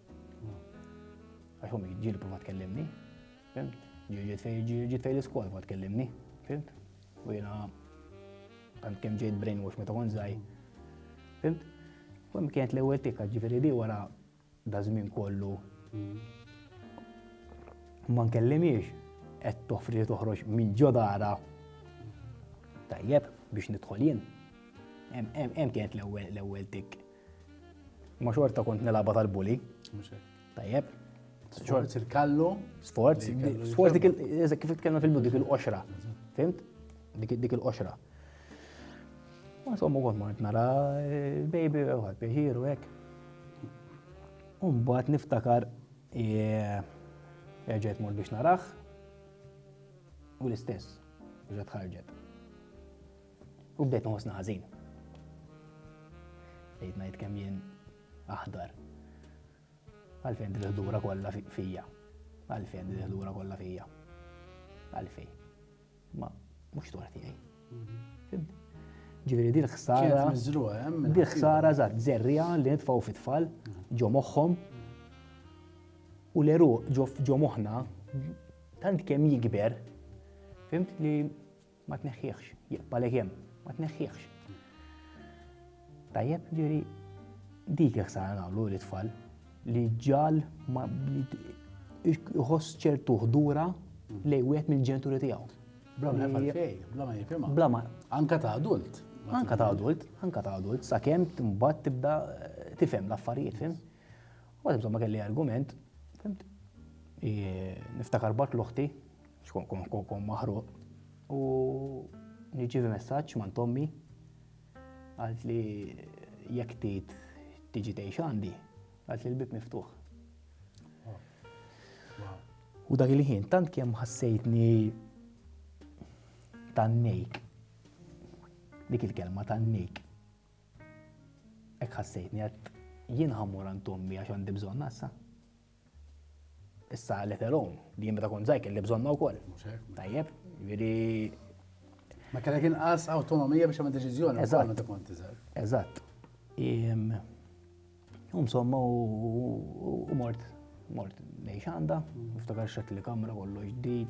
Speaker 2: Għax ommi ġieli prova tkellimni, fimt? Ġiet fej l-iskola prova tkellimni, fimt? U jena tant kem ġejt brainwash meta kon zaj, fimt? U hemm kienet l-ewwel tikka ġifieri di wara da żmien kollu ma nkellimiex qed toffri toħroġ minn ġodara tajjeb biex nidħol jien. Hemm kienet l-ewwel tikk. Ma xorta kont nilaba tal-bully. Tajjeb. Sforz
Speaker 1: il-kallu. Sforz.
Speaker 2: Sforz dik il-eżek kif tkellem fil-bidu dik il-qoxra. Fimt? Dik il-qoxra. Ma sommu kont mort nara eh, baby u għad biħiru hekk. Umbat niftakar eh, erġajt mort biex narax u l-istess ġat ħarġet. U bdejt nħossna ħażin. Bdejt ngħid kemm jien aħdar. Għalfejn din il-ħdura kollha fija. Għalfejn din il-ħdura kollha fija. Għalfejn. Ma mhux dwar tiegħi. Mhm. Ġifieri din ħsara.
Speaker 1: Din ħsara żgħat
Speaker 2: żerrija li nitfgħu fit-tfal mhm. ġo moħħhom u l-eru ġo moħħna tant kemm jikber fimt li Ma tneħħieħx, jibqalek hemm, ma tneħħieħx. Tajjeb, ġiri, dik jek sara nagħmlu li tfal li ġal ma jħoss ċertu ħdura lej wieħed mill-ġenituri tiegħu. Bla ma jafal fej,
Speaker 1: bla ma jifhimha. Bla ma. Anka
Speaker 2: ta' adult.
Speaker 1: Anka ta' adult,
Speaker 2: anka ta' adult, sakemm timbat tibda eh, tifhem l-affarijiet, fim? Mbagħad insomma kelli argument, fimt? Niftakar bart l-oħti, xkun kun kun kun maħruq. U nirċivi messaġġ man tommi għalt li jekk tit tiġi tgħix għandi, għalt li l-bib miftuħ. U dak il-ħin tant kemm ħassejtni tan-nejk. Dik il-kelma tan-nejk. Hekk ħassejtni għad jien ħammur għand ommi għax għandi bżonna issa. Issa let alone li jien meta kont żgħir kelli bżonna wkoll. Tajjeb, jiġifieri
Speaker 1: Ma kellek inqas awtonomija biex għamil deċiżjoni wkoll meta kont iżgħar. Eżatt.
Speaker 2: U insomma u mort mort lejn xanda, niftakar xed li kamra kollu ġdid.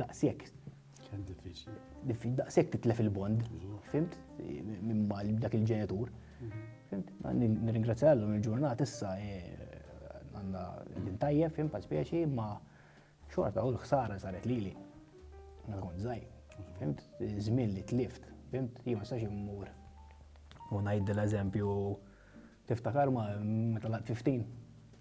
Speaker 2: Daqshekk. Kemm
Speaker 1: diffiċli. Diffiċli, daqshekk titlef
Speaker 2: il-bond. Fimt? Minn mal dak il-ġenitur. Mhm. Fimt? Nirringrazzja l il-ġurnat issa eh, għandna din tajjeb, fimt, pa' spieċi, ma' xorta u l-ħsara saret lili. Ma tkun zaħi. Fimt? Żmien li tlift. Fimt? Jien ma sax immur. U ngħid l-eżempju tiftakar ma meta laqt 15.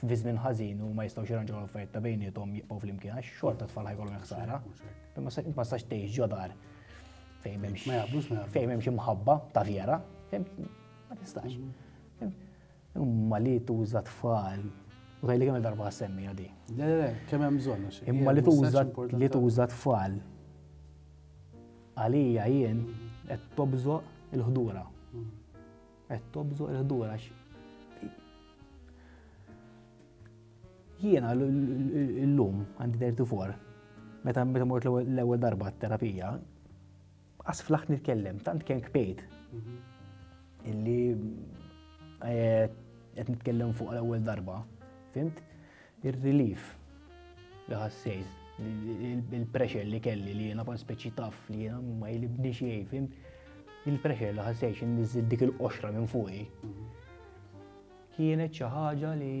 Speaker 2: fi żmien ħażin u ma jistgħux jirranġaw l-affarijiet ta' bejnietom jibqgħu flimkien għax xorta tfal ħajkolhom ħsara. Ma sax tgħix ġodar fejn m'hemmx ma jaqblux ma fejn m'hemmx imħabba ta' vera, ma tistax. Imma li tuża tfal u tajli kemm darba semmi għadi. Le, le, kemm hemm
Speaker 1: bżonn. Imma li tuża
Speaker 2: li tuża tfal għalija jien qed tobżoq il-ħdura. Mm. Qed tobżor il-ħdur għax jiena l-lum għandi 34 meta meta mort l-ewwel darba terapija qas flaħt nitkellem tant kien kpejt mhm. illi eh, qed nitkellem fuq l-ewwel darba, fimt? Ir-relief li ħassejt, il-pressure li kelli li jena kon speċi taf li jena ma jilibni xiej, fim, il-pressure li ħassejt nizzid dik il-qoxra minn fuqi. Kienet xi ħaġa li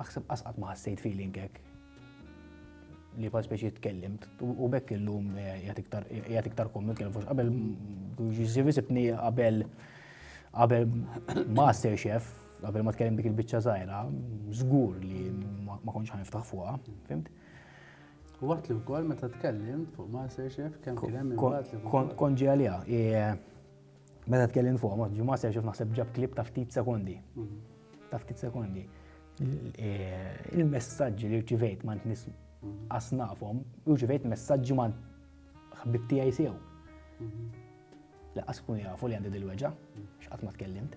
Speaker 2: aħseb qasqat ma ħassejt feeling hekk li kon speċi tkellimt u bekk illum eh, jgħat iktar kom nitkellem fux qabel ġiżi visibni qabel qabel master chef Qabel ma tkellem dik il-biċċa żgħira, żgur li ma kontx ħaniftaħ fuqha, fimt?
Speaker 1: Waqt li wkoll meta tkellim fuq Masterchef kemm kien hemm imbagħad li kont ġi għaliha.
Speaker 2: Meta tkellim fuq ma ġi Masterchef naħseb ġab klip ta' ftit sekondi. Mhm. Ta' ftit sekondi. E, il-messaġġi li rċivejt ma nis mhm. asnafhom, rċivejt messaġġi ma ħbib tiegħi sew. Mhm. Laqas kun jafu li għandi dil-weġa, x'qatt ma tkellimt.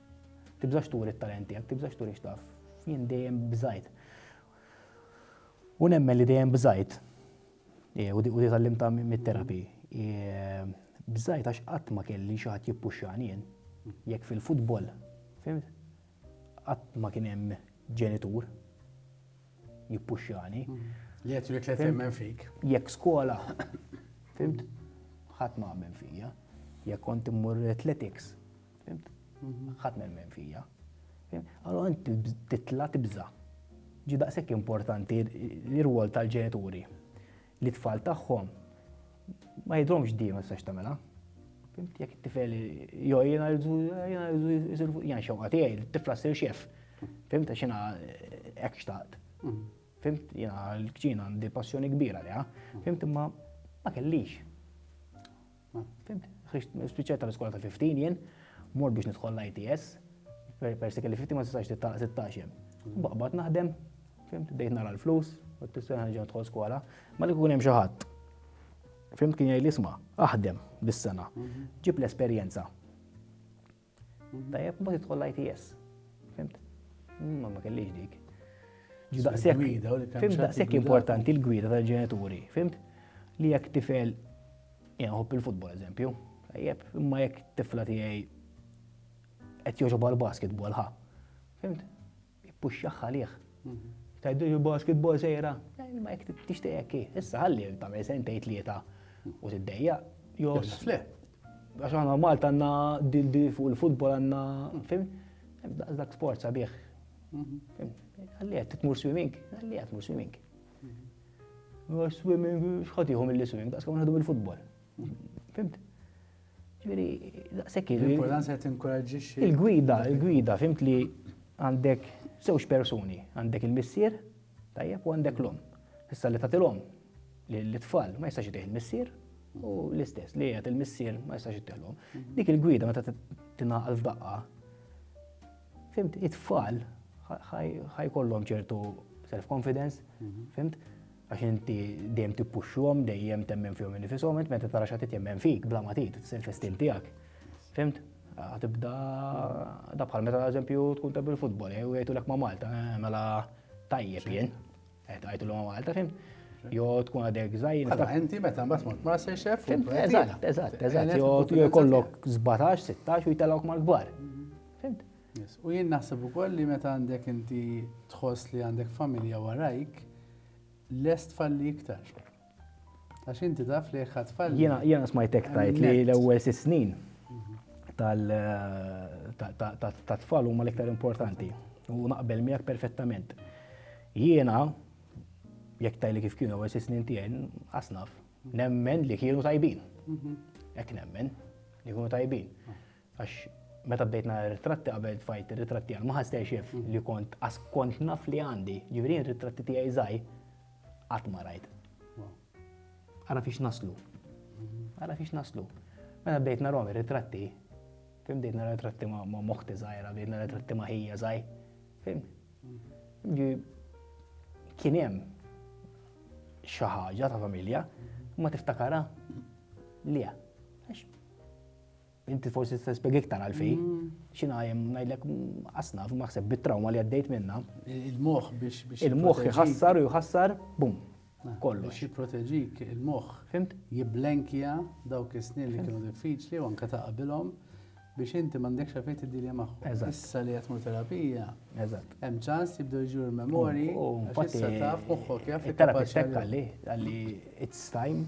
Speaker 2: Tibżax turi t-talent tiegħek, tibżax turi x'taf. Jien dejjem bżajt. U nemmen li dejjem bżajt. E, u di tallim ta' mit-terapi. E, bżajt għax qatt ma kelli xi ħadd jippuxxani jien. Jekk fil-futbol, fimt? Qatt ma kien hemm ġenitur jippuxxani. Mm. Li qed jrid li
Speaker 1: fik. Jekk skola,
Speaker 2: fimt? Ħadd ma għammen fija. Jekk kont immur athletics, Ħadd nemmen fija. Allora titla tibża. Ġi daqshekk importanti l-irwol tal-ġenituri li tfal tagħhom ma jidromx dima s-sax tamela. Fimt, jek t-tifel, jo, jena rridu, jena rridu, jena xewqa tijaj, t-tifla s-sir xef. Fimt, xena ek xtaqt. Mm. Fimt, jena l-kċina għandi passjoni kbira liha. Mm. Fimt, ma ma kellix. Ma fimt, ħriġt, spiċċajt tal-iskola ta' 15 jien, mort biex nidħol l-ITS, persi kelli 15 ma tistax tittalaq 16 jem. Baqbad naħdem, fimt, bdejt nara l-flus, u t-tisser ħanġa tħol skola, ma li kun hemm xi ħadd. Fimt kien jgħid l-isma, aħdem bis-sena, ġib l-esperjenza. Tajjeb, ma tidħol l-ITS. Fimt? Ma ma kellix dik. Fimt daqshekk importanti l-gwida tal-ġenituri, fimt? Li jekk tifel jgħob il-futbol eżempju, tajjeb, imma jekk tifla tiegħi qed joġob għal basketball ħa. Fimt? Ippuxxah għalih. Tajdu il-basketball sejra. Ma jek tixtieq hekk issa ħalli tagħmel sentej tlieta u tiddejja. Jos. Le. Għax aħna Malta għandna di fuq il-futbol għandna fim. Dak sport sabiħ. Mhm. Għalli qed tmur swimming, għalli qed tmur swimming. Mhm. Swimming, xħatiħu mill-swimming, daqs kemm nħadu mill-futbol. Fimt? Ġifieri, daqshekk Il-importanza qed
Speaker 1: tinkoraġġixxi. Il-gwida, il-gwida,
Speaker 2: fimt li għandek żewġ persuni, għandek il-missier, tajjeb, u għandek l-om. Issa li tagħtilhom l-tfal ma jistax itih il-missier, u l-istess li jgħat il-missier ma jistax jittellhom. Dik il-gwida meta tingħaqal f'daqqa, fimt, it-tfal ħajkollhom ċertu self-confidence, fimt, Għax inti dejjem tippuxxuhom, dejjem temmen fihom innifishom, int meta tara xatit jemmen fik, bla ma tgħid, tisir festin tiegħek. Fimt? Tibda da bħal meta eżempju tkun tabbi l-futbol, eh, u jgħidulek ma' Malta, eh, mela tajjeb jien. Eh, Għajtu l Malta, fimt? Jo tkun għadek zaħin. Għadda, inti meta mbatt
Speaker 1: mort ma' se xef. Eżatt,
Speaker 2: eżatt, eżatt. Jo kollok 17, 16 u jtellawk mal-gbar. Mhm. Fimt? U jien
Speaker 1: naħseb ukoll li meta għandek inti tħoss li għandek familja warajk, lest falli iktar. Għax inti taf li jekk falli. Jiena jiena smajtek tajt
Speaker 2: li l-ewwel sitt snin ta' tfal huma l-iktar importanti. U naqbel miegħek perfettament. Jiena jekk tajli kif kienu ewwel sitt snin tiegħi asnaf, nemmen li kienu tajbin. Mhm. Hekk nemmen li kienu tajbin. Ah. Għax meta bdejt nara ritratti qabel tfajt ir-ritratti għal ma ħassejx jef li kont għas kont naf li għandi, ġifieri r-ritratti tiegħi żgħir qatt ma rajt. Ara fiex naslu. Ara fiex naslu. Meta bdejt narhom ir-ritratti, fim bdejt nara ritratti ma' moħti żgħira, bdejt nara ritratti ma' ħija żgħir. Fim? Kien hemm xi ħaġa ta' familja ma tiftakara li Inti forsi tista' spjeg iktar għalfejn. Mm. Xina jem ngħidlek mm, asna maħseb bit-trauma li għaddejt minna. Il-moħħ biex
Speaker 1: biex. Il-moħħ jħassar u
Speaker 2: jħassar bum. Ah, kollu. Biex jipproteġik
Speaker 1: il-moħħ. Fimt? Jiblenkja dawk is-snin li kienu diffiċli u anke ta' qabilhom biex inti m'għandekx għafejt id-dilja magħhom. Issa li qed terapija. Eżatt. Hemm
Speaker 2: ċans jibdew
Speaker 1: jġu l-memori. Issa taf moħħok jaf. It-terapist għalli,
Speaker 2: għalli it's time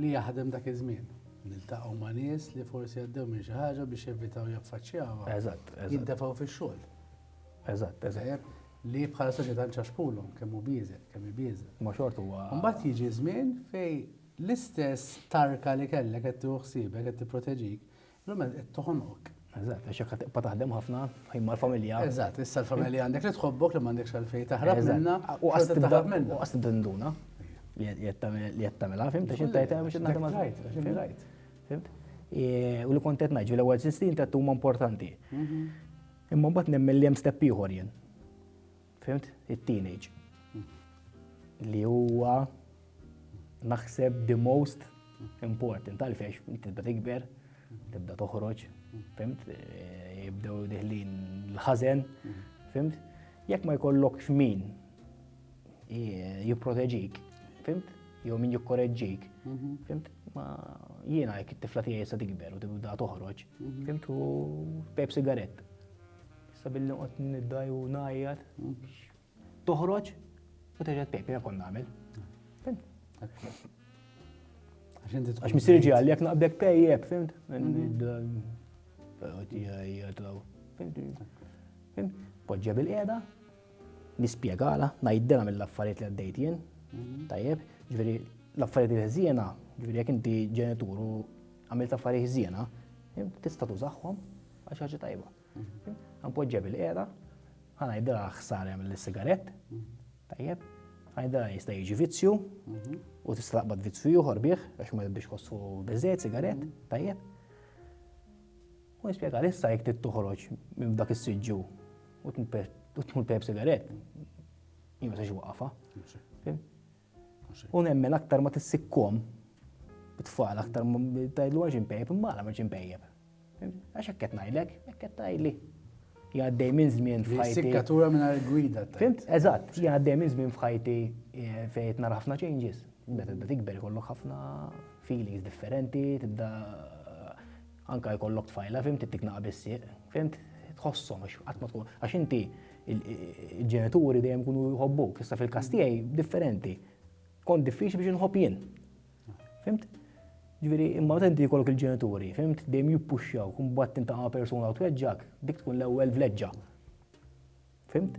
Speaker 1: li jaħdem dak iż-żmien. Niltaqgħu ma' nies li forsi għaddew minn xi ħaġa u biex jevitaw jaffaċċjawha. Eżatt, eżatt. Jintefgħu
Speaker 2: fix-xogħol.
Speaker 1: Eżatt, eżatt.
Speaker 2: Tajjeb? Li bħala
Speaker 1: soċjetà nċaxpulhom kemm hu bieżgħet, kemm hi bieżgħa. Imma xorta huwa. Imbagħad
Speaker 2: jiġi żmien
Speaker 1: fejn l-istess tarka li kellek qed tieħu ħsiebek, qed tipproteġik, L-għamel qed toħonok. Eżatt, għax jekk tibqa'
Speaker 2: taħdem ħafna, ħin mal-familja. Eżatt, issa l-familja
Speaker 1: għandek li tħobbok li m'għandekx għalfejn taħrab minna. U qas tibda minna.
Speaker 2: U qas tibda nduna li qed tagħmilha, fim, ta' xi tajt hemm xi naħdem għal. Fimt? U li kont qed ngħid, l-ewwel sistin ta' huma importanti. Mhm. Imma mbagħad nemmen li hemm step ieħor jien. Fhimt? It-teenage. Li huwa naħseb the most important. Għalfejx, tibda tikber, tibda toħroġ, fimt? Eh, jibdew diħlin l-ħazen, fimt? Jekk ma jkollokx min eh, jipproteġik, fimt? Jew min jikkoreġġik, mhm. fimt? Ma jiena jekk it-tifla tiegħi sa tikber u tibda toħroġ, mhm. fimt? U pep sigarett. Sa billi noqgħod niddaj u ngħajjat biex toħroġ u terġa' tpejpi jekk kont nagħmel. Għax missieri ġi għalli jekk naqbdek pejjeb, fimt? Poġġa bil-qiegħda, nispjegala, ngħidilha mill-affarijiet li għaddejt jien, tajjeb, ġifieri l-affarijiet li ħżiena, ġifieri jekk inti ġenitur u għamilt affarijiet ħżiena, tista' tużaħħom għax ħaġa tajba. Għanpoġġa bil-qera, għana id ħsar jagħmel l-sigarett, tajjeb, għana id jista' jiġi vizzju, u tista' taqbad vizzju ieħor bih, għax ma jibbiex kossu biżejjed sigarett, tajjeb. U nispjega issa jekk trid toħroġ minn dak is-siġġu u tmur pep sigarett, jien ma sax waqafa. U nemmen aktar ma tissikkom bit-tfal aktar tajdlu għax impejjeb imma għala ma ġimpejjeb. Għax hekk qed ngħidlek, hekk qed tgħidli. Jgħaddej minn żmien f'ħajti. Sikkatura minn gwida.
Speaker 1: Fimt, eżatt,
Speaker 2: jgħaddej minn żmien f'ħajti eh, fejn nara ħafna changes. Meta tibda tikber ikollok ħafna feelings differenti, tibda Anke jkollok tfajla, fim tittik naqa' bis-sieq, fim tħossom għax qatt ma tkun għax inti il-ġenituri dejjem kunu jħobbuk, issa fil-każ tiegħi differenti. Kont diffiċli biex inħobb jien. Fimt? Ġifieri imma meta inti jkollok il-ġenituri, fimt dejjem jippuxxaw, kun bad tintaqa' persuna u tweġġak, dik tkun l-ewwel vleġġa. Fimt?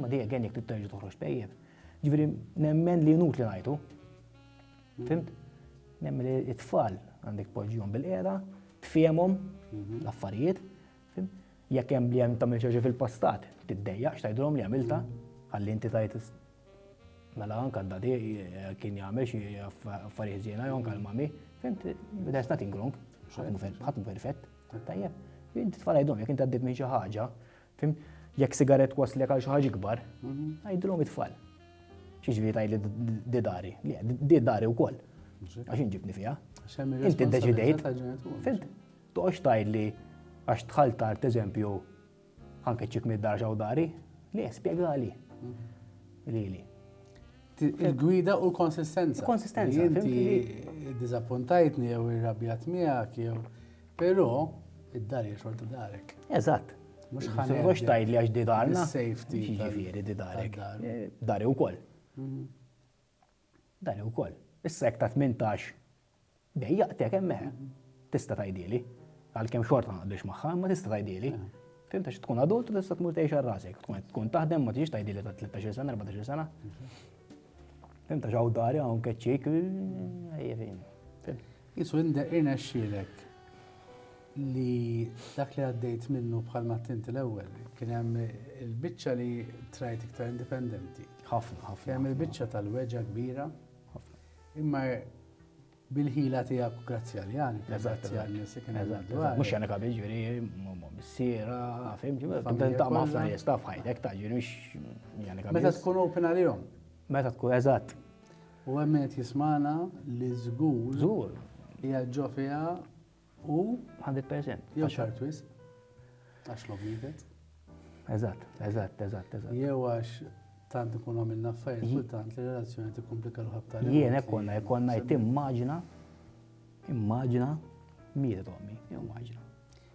Speaker 2: Ma dejja għen jek t-terġu toħroġ tajjeb. Ġviri, nemmen li nut li najtu. Fimt? Nemmen li it-tfal għandek poġġjon bil-qeda, tfiemom mhm. l-affarijiet. Jek hemm li hemm tagħmel xi fil-passat, tiddejja x'tajdhom li għamilta, għalli inti tajt mela anka d-dadi eh, kien jagħmel xi affarijiet żiena jew anka l-mami, fimt, there's nothing wrong, ħatmu perfett, tajjeb. Inti tfal għajdhom jekk inti għaddit minn xi ħaġa, Fim, jekk sigaret waslek għal xi ħaġa ikbar, għajdilhom it-tfal. Xi ġifieri tgħidli di dari, di dari wkoll. Għax inġibni fiha. Inti ddeċidejt. Fint, toqgħodx tgħidli għax tħal tard eżempju anke ċik mid-dar ġew dari, li spjegali. Lili.
Speaker 1: Il-gwida u l-konsistenza. Konsistenza. Inti dizappuntajtni jew irrabjat miegħek jew Però id-dar hija xorta darek. Eżatt. Mhux
Speaker 2: ħanet. Mhux tgħid li għax di darna. Safety. Jiġifieri
Speaker 1: di darek.
Speaker 2: Eh, dari wkoll. Mhm. Dari wkoll. Issa hekk ta' 18 dejjaqtek hemmhekk. Mhm. Tista' tgħidili. Għalkemm xorta naqdux magħha, ma tista' tgħidili. Eh. Fim ta' tkun adult u tista' tmur tgħix għal rasek. Tkun taħdem ma tiġix tgħidili ta' 13 sena, 14 sena. Mhm. Fim ta' xaw dari hawn keċċik. Eh, Qisu indek
Speaker 1: irnexxielek li dak li għaddejt minnu bħal ma tinti l-ewwel, kien hemm il-biċċa li trajt iktar indipendenti. Ħafna, ħafna. Kien hemm
Speaker 2: il-biċċa
Speaker 1: tal-weġa kbira. Ħafna. Imma bil-ħila tiegħek grazzi għal Jan, grazzi għal nies li kien għadwar. Mhux jani kabi ġifieri,
Speaker 2: missiera, fim, ġifieri. Ta' ħafna nies ta' fħajtek ta' ġifieri mhux jani kabi. Meta tkun open għalihom.
Speaker 1: Meta tkun eżatt.
Speaker 2: U hemm min qed
Speaker 1: jismagħna li żgur. Żgur. Qiegħed ġo fiha u. Hundred percent.
Speaker 2: Jew tard wisq.
Speaker 1: Għax l-għob mietet. Eżatt, eżatt,
Speaker 2: eżatt, eżatt. Jew għax
Speaker 1: tant ikunu għamilna affarijiet kultant li relazzjoni tikkumplika ruħha b'tali. Jien hekk konna, hekk konna
Speaker 2: qed timmaġina, immaġina mietet ommi, immaġina.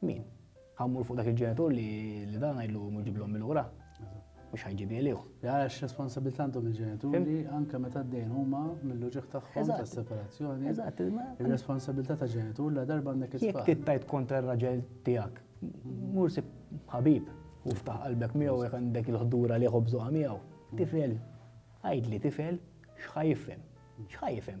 Speaker 2: Min? Ħa mmur fuq dak il-ġenitur li dan ngħidlu mmur ġib l-ommi lura? Mhux ħa jġibi għalih. Għax responsabilità
Speaker 1: għandhom il-ġenituri anke meta d-dejn huma mill-uġigħ tagħhom tas-separazzjoni. Eżatt.
Speaker 2: Ir-responsabilità ta'
Speaker 1: ġenitur la darba għandek it-tfal. Jekk tittajt kontra
Speaker 2: r-raġel tiegħek, mur sib ħabib u ftaħ qalbek miegħu jekk għandek il-ħdura li jħobbżuha miegħu. Tifel, għidli tifel, x'ħa jifhem? X'ħa jifhem?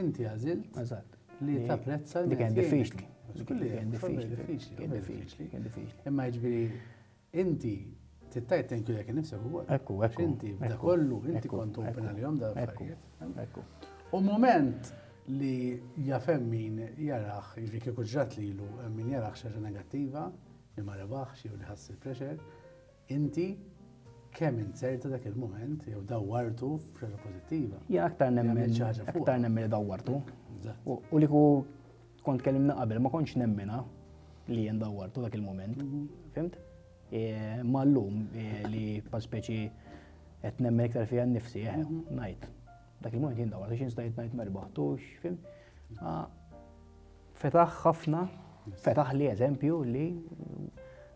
Speaker 1: Inti għażilt Eżatt. li tapprezza Dik kienet diffiċli. Kien
Speaker 2: diffiċli. Kien diffiċli.
Speaker 1: Kien diffiċli. Imma jiġifieri inti tittajt thank you lek nifsek ukoll. Ekku, ekku. Inti b'da
Speaker 2: kollu,
Speaker 1: inti kont open għalihom da affarijiet. Ekku. U moment li jafem min jarax, jiġifieri kieku ġrat lilu min jarax xi ħaġa negattiva, li ma rebaħx jew li ħass il-pressure, Inti kemm inzerta dak il-mument jew dawwartu f'xaġa pożittiva. Jien aktar nemmen
Speaker 2: aktar nemmen li dawwartu. U li ku kont kellimna qabel ma kontx nemmena li jien dawwartu dak il-mument. Mhm. Fimt? E, ma llum e, li pa speċi qed nemmen iktar fiha nnifsi, eh, mhm. ngħid. Dak il-moment jien dawra, xi stajt ngħid ma rbaħtux, fim. Fetaħ ħafna, fetaħ li eżempju li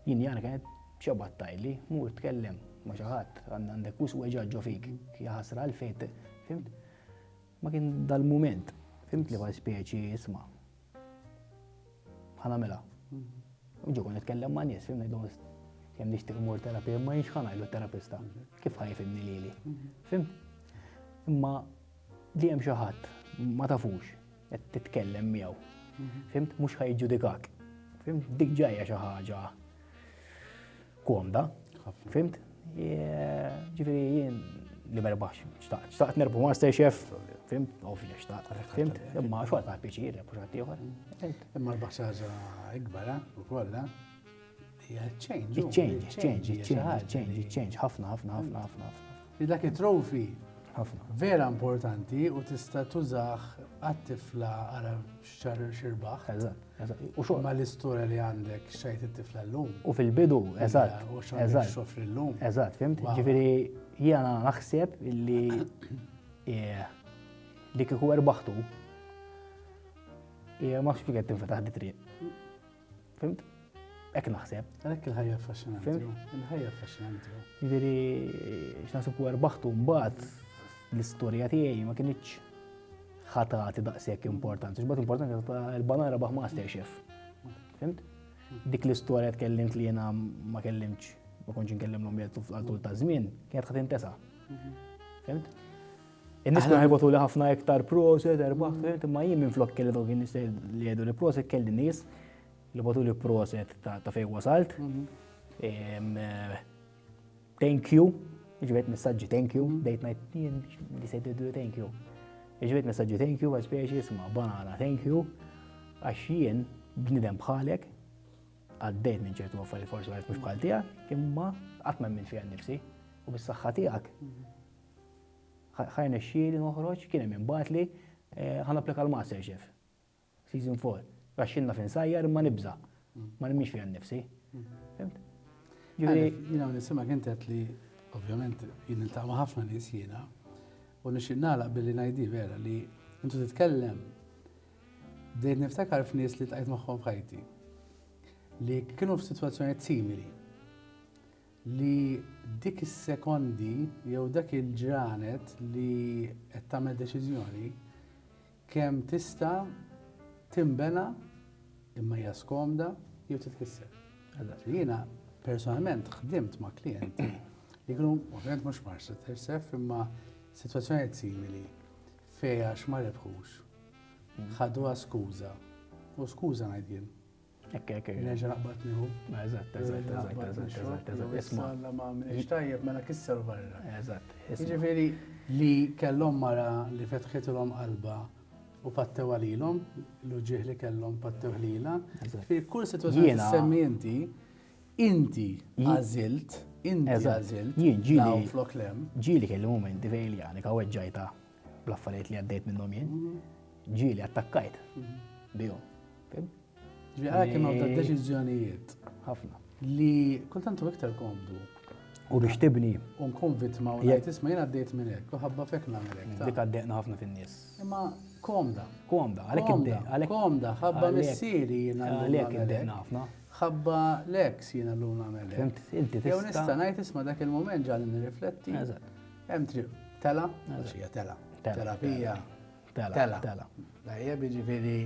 Speaker 2: jien jara kienet ċabat tajli, mur tkellem ma xi ħadd għandek us weġaġġo fik, jaħasra l-fejt, fimt? Ma kien dal-moment, fimt li speċi isma' Ħa nagħmilha. Ġu kon nitkellem ma' nies, fimni dom jem nixtieq mur terapija, ma jinx ħan għajdu terapista. Kif ħaj fimni li li? Fim? Imma li jem xaħat, ma tafux, qed titkellem miegħu. Fimt, mhux ħajġudikak. Fimt, dik ġajja xi ħaġa Komda, fimt? Ġifieri jien li ma rebaħx, xtaqt nerbu Master Chef, fim, ovvja xtaqt, fim, imma xogħol ta' piċir, mhux għad ieħor. Imma l-basaża
Speaker 1: ikbar, eh, u kollha, hija
Speaker 2: change. Change, change, change, change, change, ħafna, ħafna, ħafna, ħafna.
Speaker 1: Dak it-trofi ħafna. Vera importanti u tista' tużaħ għat-tifla għara Xar xirbaħ. Eżatt, eżatt. U xogħol.
Speaker 2: Ma l-istorja li
Speaker 1: għandek xajt it-tifla llum. U fil-bidu,
Speaker 2: eżatt. U xogħol xofri
Speaker 1: llum. Eżatt, fimt? Ġifieri
Speaker 2: jiena naħseb li eh, li kieku erbaħtu ma xfiket tinfetaħ di triq. Fimt? Ek naħseb. Għalek il-ħajja affaxxinanti.
Speaker 1: Il-ħajja affaxxinanti. Ġifieri
Speaker 2: x'naħseb u erbaħtu mbagħad l-istorja tiegħi ma kienx ħatati daqshekk importanti. X'bad importanti ta' il-banara baħ master chef. Fimt? Dik l-istorja tkellimt li jiena ma kellimx, ma kontx nkellimlhom jgħid għal tul ta' żmien, kienet ħadd intesa. Mhm. Fimt? In-nies kienu ħajbotuli ħafna iktar proset, erbaħt, fimt, imma jien minn flok kelli dawk in-nies li jgħidu li proset kelli nies li botuli proset ta' fejn wasalt. Thank you, ġibet messaġġi thank you, dejt ngħid jien li se jgħidu thank you. Ġibet messaġġi thank you, għaz biex jisma' banana thank you, għax jien bnidem bħalek għaddejt minn ċertu għaffari forsi għarf mux bħal tijak, imma għatma minn fija nifsi u bis-saxħa tijak Ħa jnexxieli noħroġ, kien hemm min bagħatli, ħa napplika għal MasterChef, season 4. Għax jien naf insajjar imma nibża', ma nemmix fija nnifsi. Fimt? Ġifieri.
Speaker 1: Jien hawn nisimgħek inti qed li ovvjament jien niltaqa' ma' ħafna nies jiena u nixtieq nagħlaq billi ngħidi vera li intu titkellem bdejt niftakar f'nies li tqajt magħhom f'ħajti li kienu f'sitwazzjonijiet simili. li dik is-sekondi jew dak il-ġranet li qed tagħmel deċiżjoni kemm tista' tinbena imma hija skomda jew titkisser. Jiena personalment ħdimt ma' klijenti li kienu ovvjament mhux marsa tersef imma sitwazzjonijiet simili fejn għax ma rebħux ħaduha skuża u skuża ngħid jien Ekk, ekk, ekk. Neġa
Speaker 2: naqbad nieħu.
Speaker 1: Eżatt, eżatt, eżatt, eżatt,
Speaker 2: eżatt, eżatt. Isma. Alla
Speaker 1: ma għamilx tajjeb mela kisser barra. Eżatt. Ġifieri li kellhom mara li fetħitilhom qalba u pattew għalilhom, l-uġieħ li kellhom pattew ħlila. Fi kull situazzjoni semmi inti, inti għażilt, inti għażilt. Jien ġieli. Flok lem. Ġieli kelli momenti
Speaker 2: fejn li għanika weġġajta. Bl-affarijiet li għaddejt minnhom jien, ġieli attakkajt bihom.
Speaker 1: Ġieli għalhekk kienu għadda deċiżjonijiet. Ħafna.
Speaker 2: Li
Speaker 1: kultant u iktar komdu. U biex
Speaker 2: tibni. U nkun vittma u
Speaker 1: jgħid isma' jien għaddejt minn hekk, u ħabba fek nagħmel hekk. Dik għaddejna ħafna
Speaker 2: fin-nies. Imma
Speaker 1: komda. Komda, għalhekk komda.
Speaker 2: Komda, ħabba
Speaker 1: missieri jiena għalhekk għaddejna ħafna.
Speaker 2: Ħabba
Speaker 1: l-eks jiena llum nagħmel hekk. Inti tista'.
Speaker 2: Jew nista' ngħid isma'
Speaker 1: dak il-mument ġalli nirrifletti. Eżatt Hemm triq tela, għax hija tela. Tela fija. Tela. Tela. Lajja jiġifieri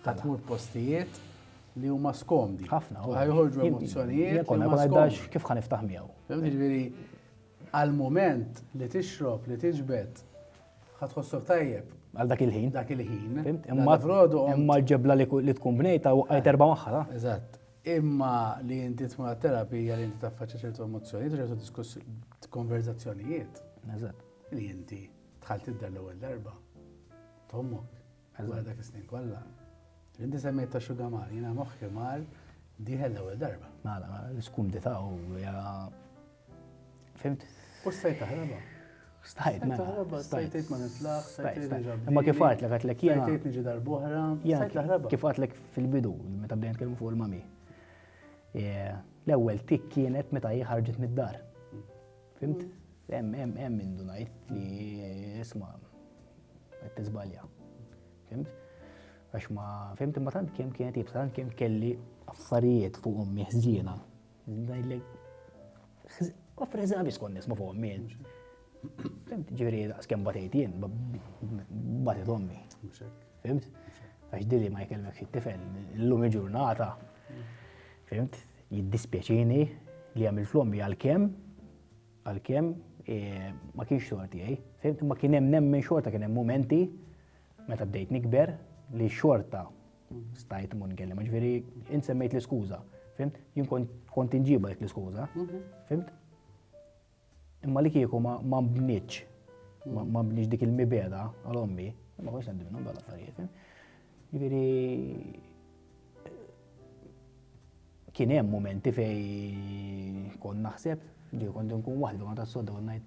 Speaker 1: qed tmur postijiet li huma skomdi. Ħafna. Ħajħorġu
Speaker 2: emozzjonijiet.
Speaker 1: Konna ma għaddax kif
Speaker 2: ħan iftaħ miegħu. Jiġifieri
Speaker 1: għal-moment li tixrob, li tiġbed, ħatħossok tajjeb. Għal dak il-ħin. Dak
Speaker 2: il-ħin.
Speaker 1: Imma
Speaker 2: l-ġebla li tkun bnejta u għajt erba maħħa. Eżatt. imma
Speaker 1: li inti tmur għat-terapija li inti taffaċċja ċertu emozzjonijiet u ċertu diskuss konverzazzjonijiet. Eżatt.
Speaker 2: Li inti
Speaker 1: tħall tidher l-ewwel darba. Tommok. Eżatt dak is-snin kollha. Inti semmejt ta' xuga mar, jiena moħħi mar diħel l-ewwel darba. Mela, l-iskumdità
Speaker 2: u Fimt? U stajt taħraba.
Speaker 1: Stajt, ma.
Speaker 2: Mela. Stajt
Speaker 1: ma nitlaħ, stajt nġab. Imma kif għat l-għat
Speaker 2: l-ek jena. Stajt nġi darbohra,
Speaker 1: stajt taħraba. Kif għat l-ek fil-bidu,
Speaker 2: meta bdejn kelmu fuq il-mami. Eh, l-ewel tik kienet meta jħarġet mid-dar. Fimt? Hemm hemm hemm minn dunajt li isma' qed tiżbalja. Fimt? Għax ma fimt imma tant kemm kienet jibsa tant kemm kelli affarijiet fuq ommi ħżiena Ngħidlek, offri eżami skont nisma fuq ommi. Fimt, ġifieri skem batejt jien, batejt ommi. Fimt? Għax dili ma jkellmek xi tifel, illum il-ġurnata. Fimt? Jiddispjaċini li għamil flommi għal-kem, għal-kem, e, ma kienx xogħol tiegħi. Fimt? Ma kien hemm nemmen xorta kien hemm momenti meta bdejt nikber li xorta Stajt immur nkellem, ġifieri int semmejt l-iskuża, fimt? Jien kont inġiba dik l-iskuża, mhm. fimt? Imma li kieku ma mbniċ, ma mbniċ dik il-mibeda għal ommi, ma konx għandi minnhom dal affarijiet. Ġifieri kien hemm momenti fej kon naħseb li kont nkun waħdi ma tas-soda u ngħid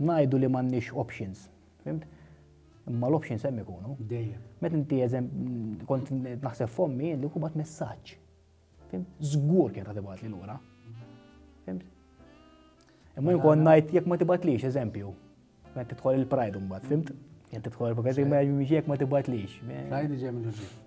Speaker 2: Ngħidu li m'għandniex options. Fimt? Imma l-options hemm ikunu. Dejjem. Meta inti
Speaker 1: eżem
Speaker 2: kont naħseb fommi li kubat messaġġ. Fimt? Żgur kien ta' tibgħat li lura. Fimt? Imma jkun ngħid jekk ma tibgħatlix eżempju. Meta tidħol il-pride mbagħad, fimt? Jekk tidħol il-pride ma jekk ma tibgħatlix. Pride ġejja mill-ġid.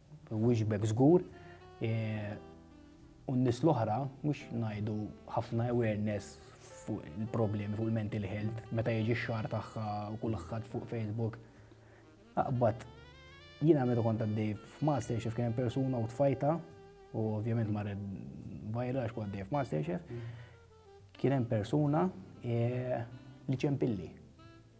Speaker 2: Nwieġbek żgur. U n-nies l-oħra mhux ngħidu ħafna awareness fuq il-problemi fuq il-mental health meta jiġi x-xahar tagħha u kulħadd fuq Facebook. Aqbad jiena meta kont għaddej f'Masterchef kien hemm persuna u tfajta u ovvjament marret vajra għax kont għaddej f'Masterchef. Kien hemm persuna e, li ċempilli.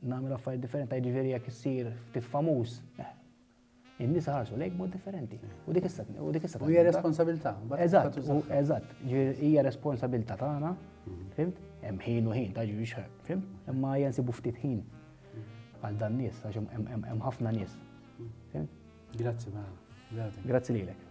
Speaker 2: Nagħmel affarijiet differenti, ta' jiġifieri jekk issir ftit famuż, eh, in-nies ħarsu lejk mod differenti. U dik issa u dik issa. U hija responsabilità.
Speaker 1: Eżatt,
Speaker 2: eżatt, hija responsabilità tagħna, mhm. fimt? Hemm ħin u ħin ta' ġiex, fimt? Imma hija nsibu ftit ħin għal dan nies għax hemm ħafna nies. Mhm. Grazzi, Grazzi lilek.